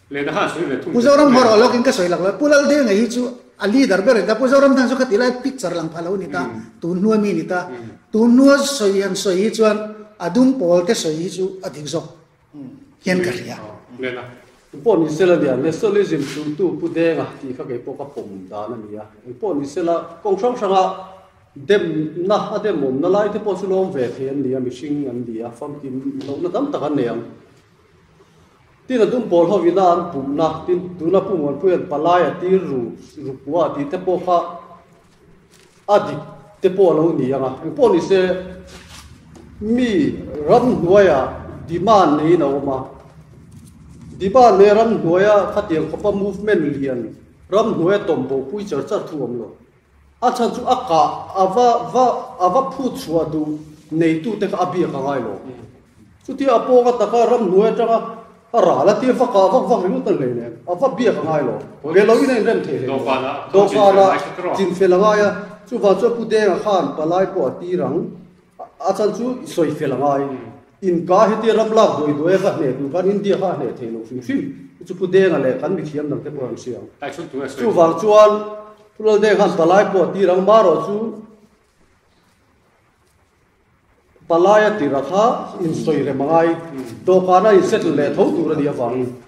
Pu Zoram hmaraw lawk in ka sawi lak lo, Pu Laldir ngei hi chu a leader ber a ni ta, Pu Zoram tan chu kha tilai picture lang phah lo a ni ta, tun hnuai mi a ni ta, tun hnuai sawi han sawi hi chuan a dum pawl te sawi hi chu a dik zawk hian ka hria. Lena, Eng pawh ni sela nia, Nationalism sultu Pu Denga tih kha kei pawh ka pawm dan a nia, eng pawh ni sela kawng hrang hranga demna a demawmna lai te pawh chu lawm ve thei an nia, mihring an nia, famkim lohna tam tak an nei ang. Tin a dum pawl ho ina an pumna, tin tuna Pu Muanpuia'n palai a tir ru ru pua a tihte pawh kha a dik te pawh a lo ni ang a. Engpawh ni se, mi ramhnuaia demand neiin a awm a. Demand nei ramhnuaia khatiang khawpa movement lian ramhnuaia tawmhbopui charh charh thu awm lo. A chhan chu a kah, a va va a va phut chhuah duh neitute kha a biak a ngai lo. Chuti a pawng a taka ram hnuai atanga a ral a tir vakah a vak vak ringawt ta ngei nen a va biak a ngai lo. Ve loin a inrem thei hle nen dawhkanah chinfel a ngai a. Chuvang chuan Pu Denga khan palai pawh a tir ang. A chhan chu i sawi fel a ngai. Inka hi tia ram lak duai duai a ka hne tur khan India kha a hne thei lo hrim hrim. I chu Pu Denga leh kan mithiam dangte pawh an hria. Chuvang chuan Pu Lal Deng han palai pawh a tir ang. Mah erawh chu palai a tirah kha in sawi rem a ngai. Dawhkana in settle leh tho tur a nih avangin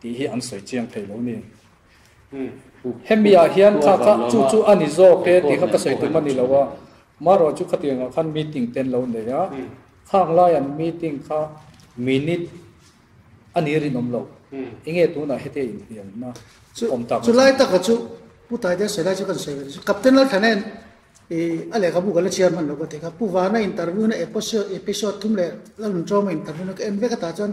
Tih hi an sawi chiang thei lo nen. Hemi ah hian kha kha chu chu a ni zawk e tih kha ka sawi tum a ni lo a, marawh chu khatiang ah khan meeting te an lo nei a, khang lai an meeting kha minute a ni rinawm lo, i nge tun ah hete in hliam na chu awm tak a ni. Chu lai tak ah chu Pu Thai Deng sawi lai chu kan sawi ve ta chu Captain Lalthanen i a lehkha bu kan la chhiar hman lo ka ti kha, Pu Vana interview na episode thum leh la lun tawng a interview na ka en vek a tah chuan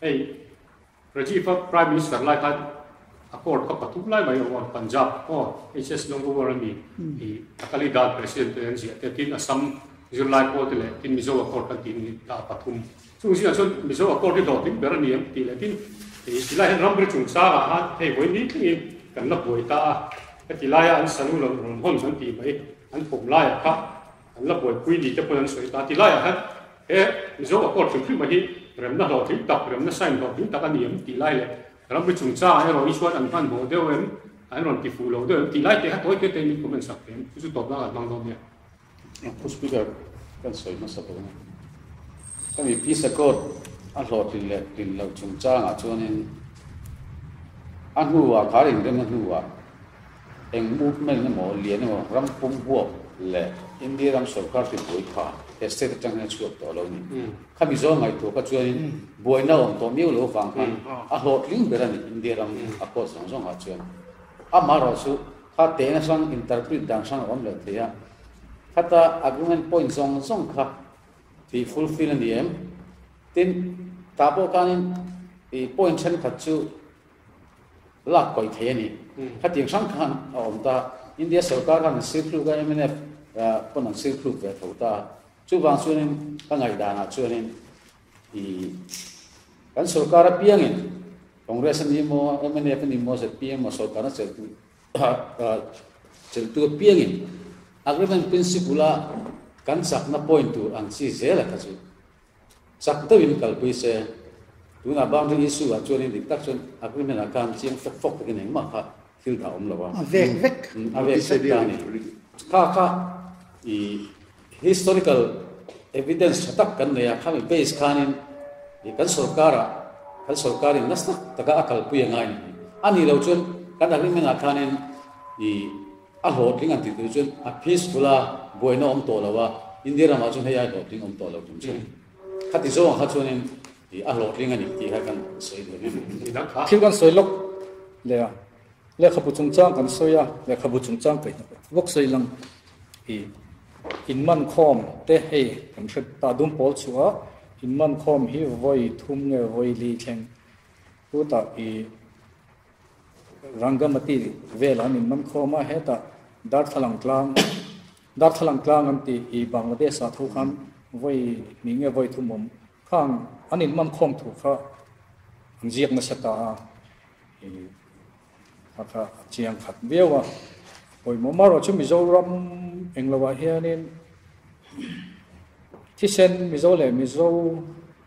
Hei Rajiv a Prime Minister lai khan a court ka pathum lai mai awm ang Punjab aw HS Longruar a ni i Akali Dal President te an ziah te tin Assam zirlai pawl te leh tin Mizo a court kan tih ni ta a pathum chung zinah chuan Mizo a court hi dawh hlim ber a ni ang tih leh tin i tilai hian Ramri chung sang ah khan hei vawi ni tling in kan la buai ta a heti lai a an salu lo rawn hawn zan tih mai an phawm lai ah kha An la buaipui ni te pawn an sawi ta. Ti laiah hian he Mizo a court hrim hrima hi remna hlawh ding tak, remna sign hlawh ding tak a ni em tih lai leh ramri chungchang ah erawh inchuan an han bawh deuh em, an rawn ti fuh loh deuh em tih lai te hato hian min comment sak teh em. Chu chu tawp nan an hmang dawn nia. Thu speaker kan sawi hmasa dawn a. Khami peace accord a hlawh thin leh thin loh chungchang ah chuan in a hnu ah khar inremna hnu ah, Eng movement emaw, lian emaw ram pum huap leh India ram sorkar te buai kha he state atang hian a chhuak tawh lo ni. Kha Mizo ngaihtuah kha chuanin buaina awm tawh miau lo vang khan a hlawh tling ber a ni India ram a court zawng zawng ah chuan. Amah erawh chu kha teh na hrang interpret dan hrang a awm leh thei a, khata agreement point zawng zawng kha tih fulfill a ni em? Tin, tah pawh khanin i point thenkhat chu. lak kawih thei a ni. Khati ang hrang khan a awm ta a. India sorkar khan an sirthluk a, MNF pawn an sirthluk ve tho ta a. Chuvang chuanin ka ngaihdanah chuanin i kan sorkar apiangin Congress a ni maw, MNF a ni maw, zpm maw sorkarna cheltu cheltu apiangin agreement principle-a kan chakna point tur ang chi zel a kha chu. Chak deuhin kalpui se. Tunah boundary issue ah chuanin dik tak chuan agreement ah khan chiang fawk fawk takin engmah kha thil dah awm lo a. A vek vek. Umm a vek vek ta ni. Kha kha i historical evidence tha tak kan nei a, khami base khanin i kan sorkar ah kan sorkar in nasnak taka a kalpui a ngai a nih hmel. A nih lo chuan kan agreement ah khanin i. A hlawhtling an tih tur chuan a peaceful a, buaina awm tawh lo a, India ramah chuan hei ai hlawhtling awm tawh lo tum chu khati zawng kha chuanin a hlawhtling a ni tih kha kan sawi ve mai mai. Thil kan sawi lawk leh a, lehkhabu chungchang kan sawi a, lehkhabu chungchang kaih hna pawh vawk sawi lang hi inmankhawm te hei kan hriat ta dum pawl chuah a, inmankhawm hi vawi thum nge vawi li thleng put a i Rangamati vel an inman khawm a, heta Darthlalang tlang Darthlalang tlang an tih hi Bangladesh ah thu khan vawi ni nge vawi thumawm kha ang an inman khawm thu kha an ziak nasa ta a, kha kha a chiang khat viau a, pawimawh marawh chu Mizoram englo ah hianin thisen Mizo leh Mizo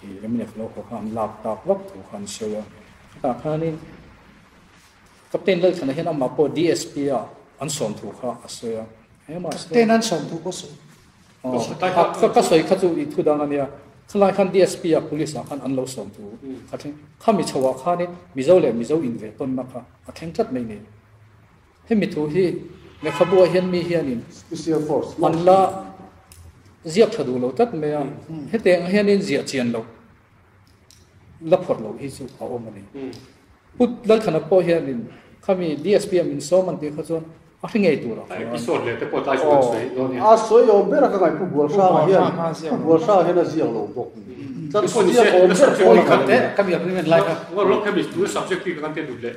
He Emirates lo khaw kha an lak tak vak thu kha an hreu a. Chutah khanin Captain Lalthana hian amah pawh DSP-a an sawm thu kha a sawi a. Emirates hian. Captain an sawm thu pawh sawi. Aw, ka sawi kha chu i thu dang a nia. Khulai khan DSP-a Police-ah khan an lo sawm thu a thleng. Khami chhoah khanin Mizo leh Mizo inve tawnna kha a thleng tlat mai nen. Hemi thu hi lehkhabu ah hian mi hianin an la ziak tha duh lo tlat mai a, hetiang ah hianin ziah chian loh, la phawrh loh hi chu a awm a ni. Put Lalthanak pawh hianin khami DSPM in sawm an tih kha chuan a hri ngei tur a awm a. A sawi awm ber a ka ngaih, Pu Bualhrang ah hian, Pu Bualhrang ah hian a ziak lo bawk. Chuan ziak awm ber fawn ang a ni.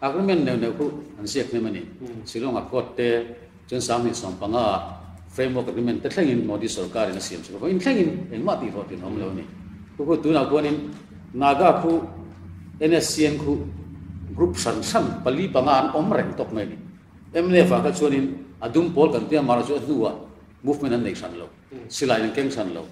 Agreement neuh neuh khuh an ziak hnem a ni. Shillong-a Court te chuan sang hnih sawm panga ah Framework Agreement te thlengin Modi sawrkarin a siam chhuak a, vawiin thlengin engmah tihhlawh tirh a awm lo a ni. Khukut tunah khuanin Naga khuh, NSCN khuh group hran hran pali panga an awm reng tawk mai a ni. Mnf-a kha chuanin a dum pawl kan tia mahla chu a hnuah movement an nei hran lo, silaiin an keng hran lo.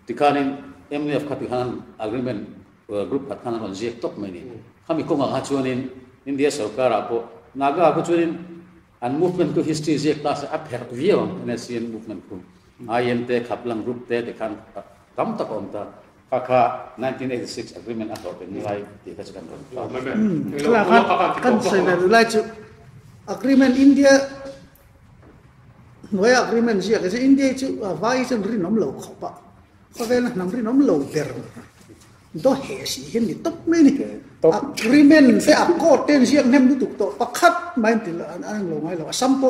Tikhanin Mnf kha tikhan Agreement Group khat khan a rawn ziak tawp mai ni. Khami kawngah kha chuanin India sorkarah pawh Naga khaw chuanin an movement ku history ziak ta se a pherh viau ang NACN movement khu, IM te, Khaplang group te te khan tam tak a awm ta. Kha kha nineteen eighty six agreement a hlawhpeng ni lai tih kha chu kan rawn hlau ta. Thlalak a kan sawi ve duh lai chu agreement India hnuaia agreement ziak e che. India chu vai hi chuan rinawm lo khawp a. Ka velna hnam rinawm lo ber do he si hian ni tawp mai ni agreement te a court te ziak nem lutuk to pakhat mai til an ang lo ngai lo assam po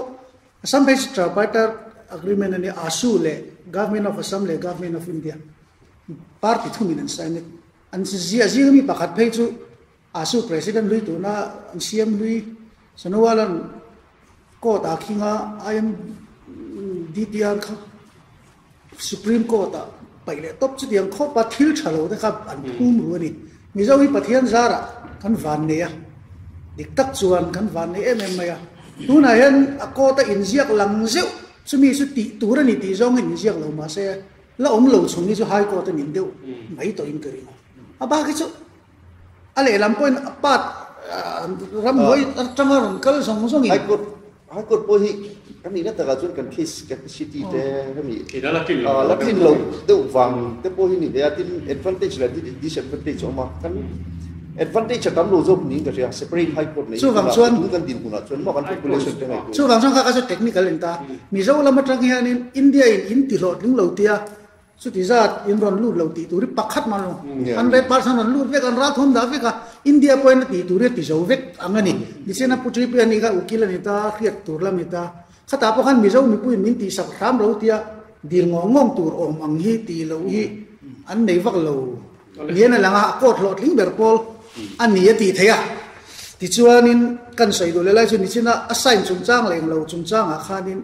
assam phei si tripartite agreement ani asu le government of assam le government of india party thumin an sign an zia zing mi pakhat phei chu A su President hlui tuna an siam hlui Sonowalan Court ah khing a, IMDTR kha Supreme Court ah paih leh tawp chutiang khawp a, thil tha lo te kha an phum ru a ni. Mizo hi Pathian zar ah kan van nei a, dik tak chuan kan van nei em em mai a, tunah hian a court a inziak lang zeuh chumi chu tih tur a ni tih zawng in inziak lo mahse la awm lo chung hi chu High Court a nih deuh mai tawh in ka ring a, a bak hi chu. a lehlam pawhin a pat ram luai atanga rawn kal zawng zawng in. High Court High Court pawh hi kan nih na takah chuan kan case capacity te hemi a la tlinlo a la tlinlo deuh vang te pawh hi ni ve a tin advantage leh disadvantage a awm a kan advantage a tam lo zawk niin ka hria separate High Court nei chuvang chuan tun kan din hunah chuan mahk an population te ngaihtuah chuvang chuan kha ka zet technical in ta Mizo lam atang hianin India in in tihlawhtling lo tia Chuti zat in rawn lut lo tih tur hi pakhat man lo. An red bars an rawn lut vek, an ral thawm dah vek a, India pawh hian a tih tur hi a ti zo vek ang a ni. Ni chian a Putri pawh hian ni kha ukil a ni ta, hriat tur lam a ni ta. Khatah pawh khan Mizo mipuiin min tih sak hram lo tia dil ngawng ngawng tur awm ang hi tih loh hi an nei vak lo niin a lang a, a kawt hlawh tling ber pawl a ni a tih theih a. Tichuanin kan sawi duh leh lai chu ni chin a, a sign chungchang leh englo chungchangah khanin,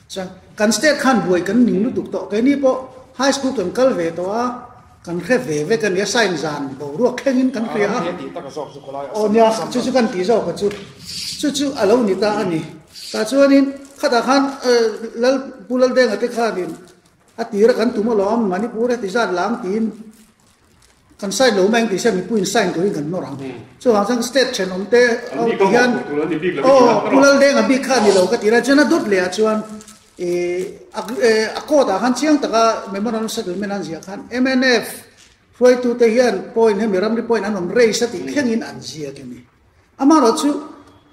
Chuan kan state khan buai kan ning lutuk tawh keini pawh high school kan kal ve tawh a kan hre ve vek a nia sign zan boruak thlengin kan hre a aw nia chu chu kan tih zawk a chu chu chu a lo ni ta a ni tah chuanin khatah khan lal pu laldenga te khanin. A tir a kan tum alawm Manipur heti zat lam tiin kan sign lo mai ang tih se mipuiin sign turin kan nawr ang chuvang chuan state thenawm te ho ti hian aw kulal denga bik kha ni lo ka tira chuan a dawt leh ah chuan e a court ah khan chiang taka memorandum of settlement an ziah khan MNF hruaitu te hian point hemi ramri point an rawn raise a tih thlengin an ziak a ni. Amarawh chu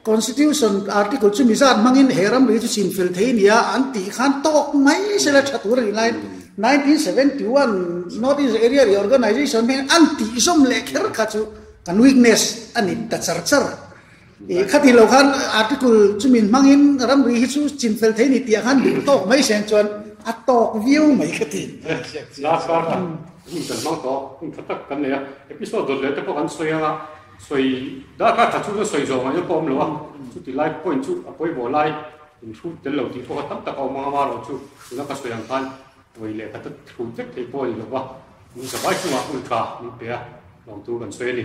Constitution Article chu mizat hmangin he ram lui chu chhin fel thei a nia an tih khan tawk mai sela tha tur a ni lai. Nineteen seventy one North East Area Reorganisation hming an tih zawm leh kher kha chu kan weakness a ni ta char char. Ih kha tilo khan Article chu min hmangin ram lui hi chu chhin fel thei a ni tih ah khan duh tawk mai siam chuan a tawk viau mai kha ti. Last kar khan kan hmang tawh hmun tha tak kan nei a. Episode zawt leh te pawh kan sawi anga. Sawi dah kha tha chu na sawi zawng aia pawm lo a, chuti lai point chu a pawi bo lai in hrut tel lo tih pawh kha tam tak a awm ang a maraw chu tuna ka sawi ang khan hawi leh kha ta hrut vek theih pawh a ni lo va, min zavai chunga ultra min pe a lawm tur kan sawi a ni.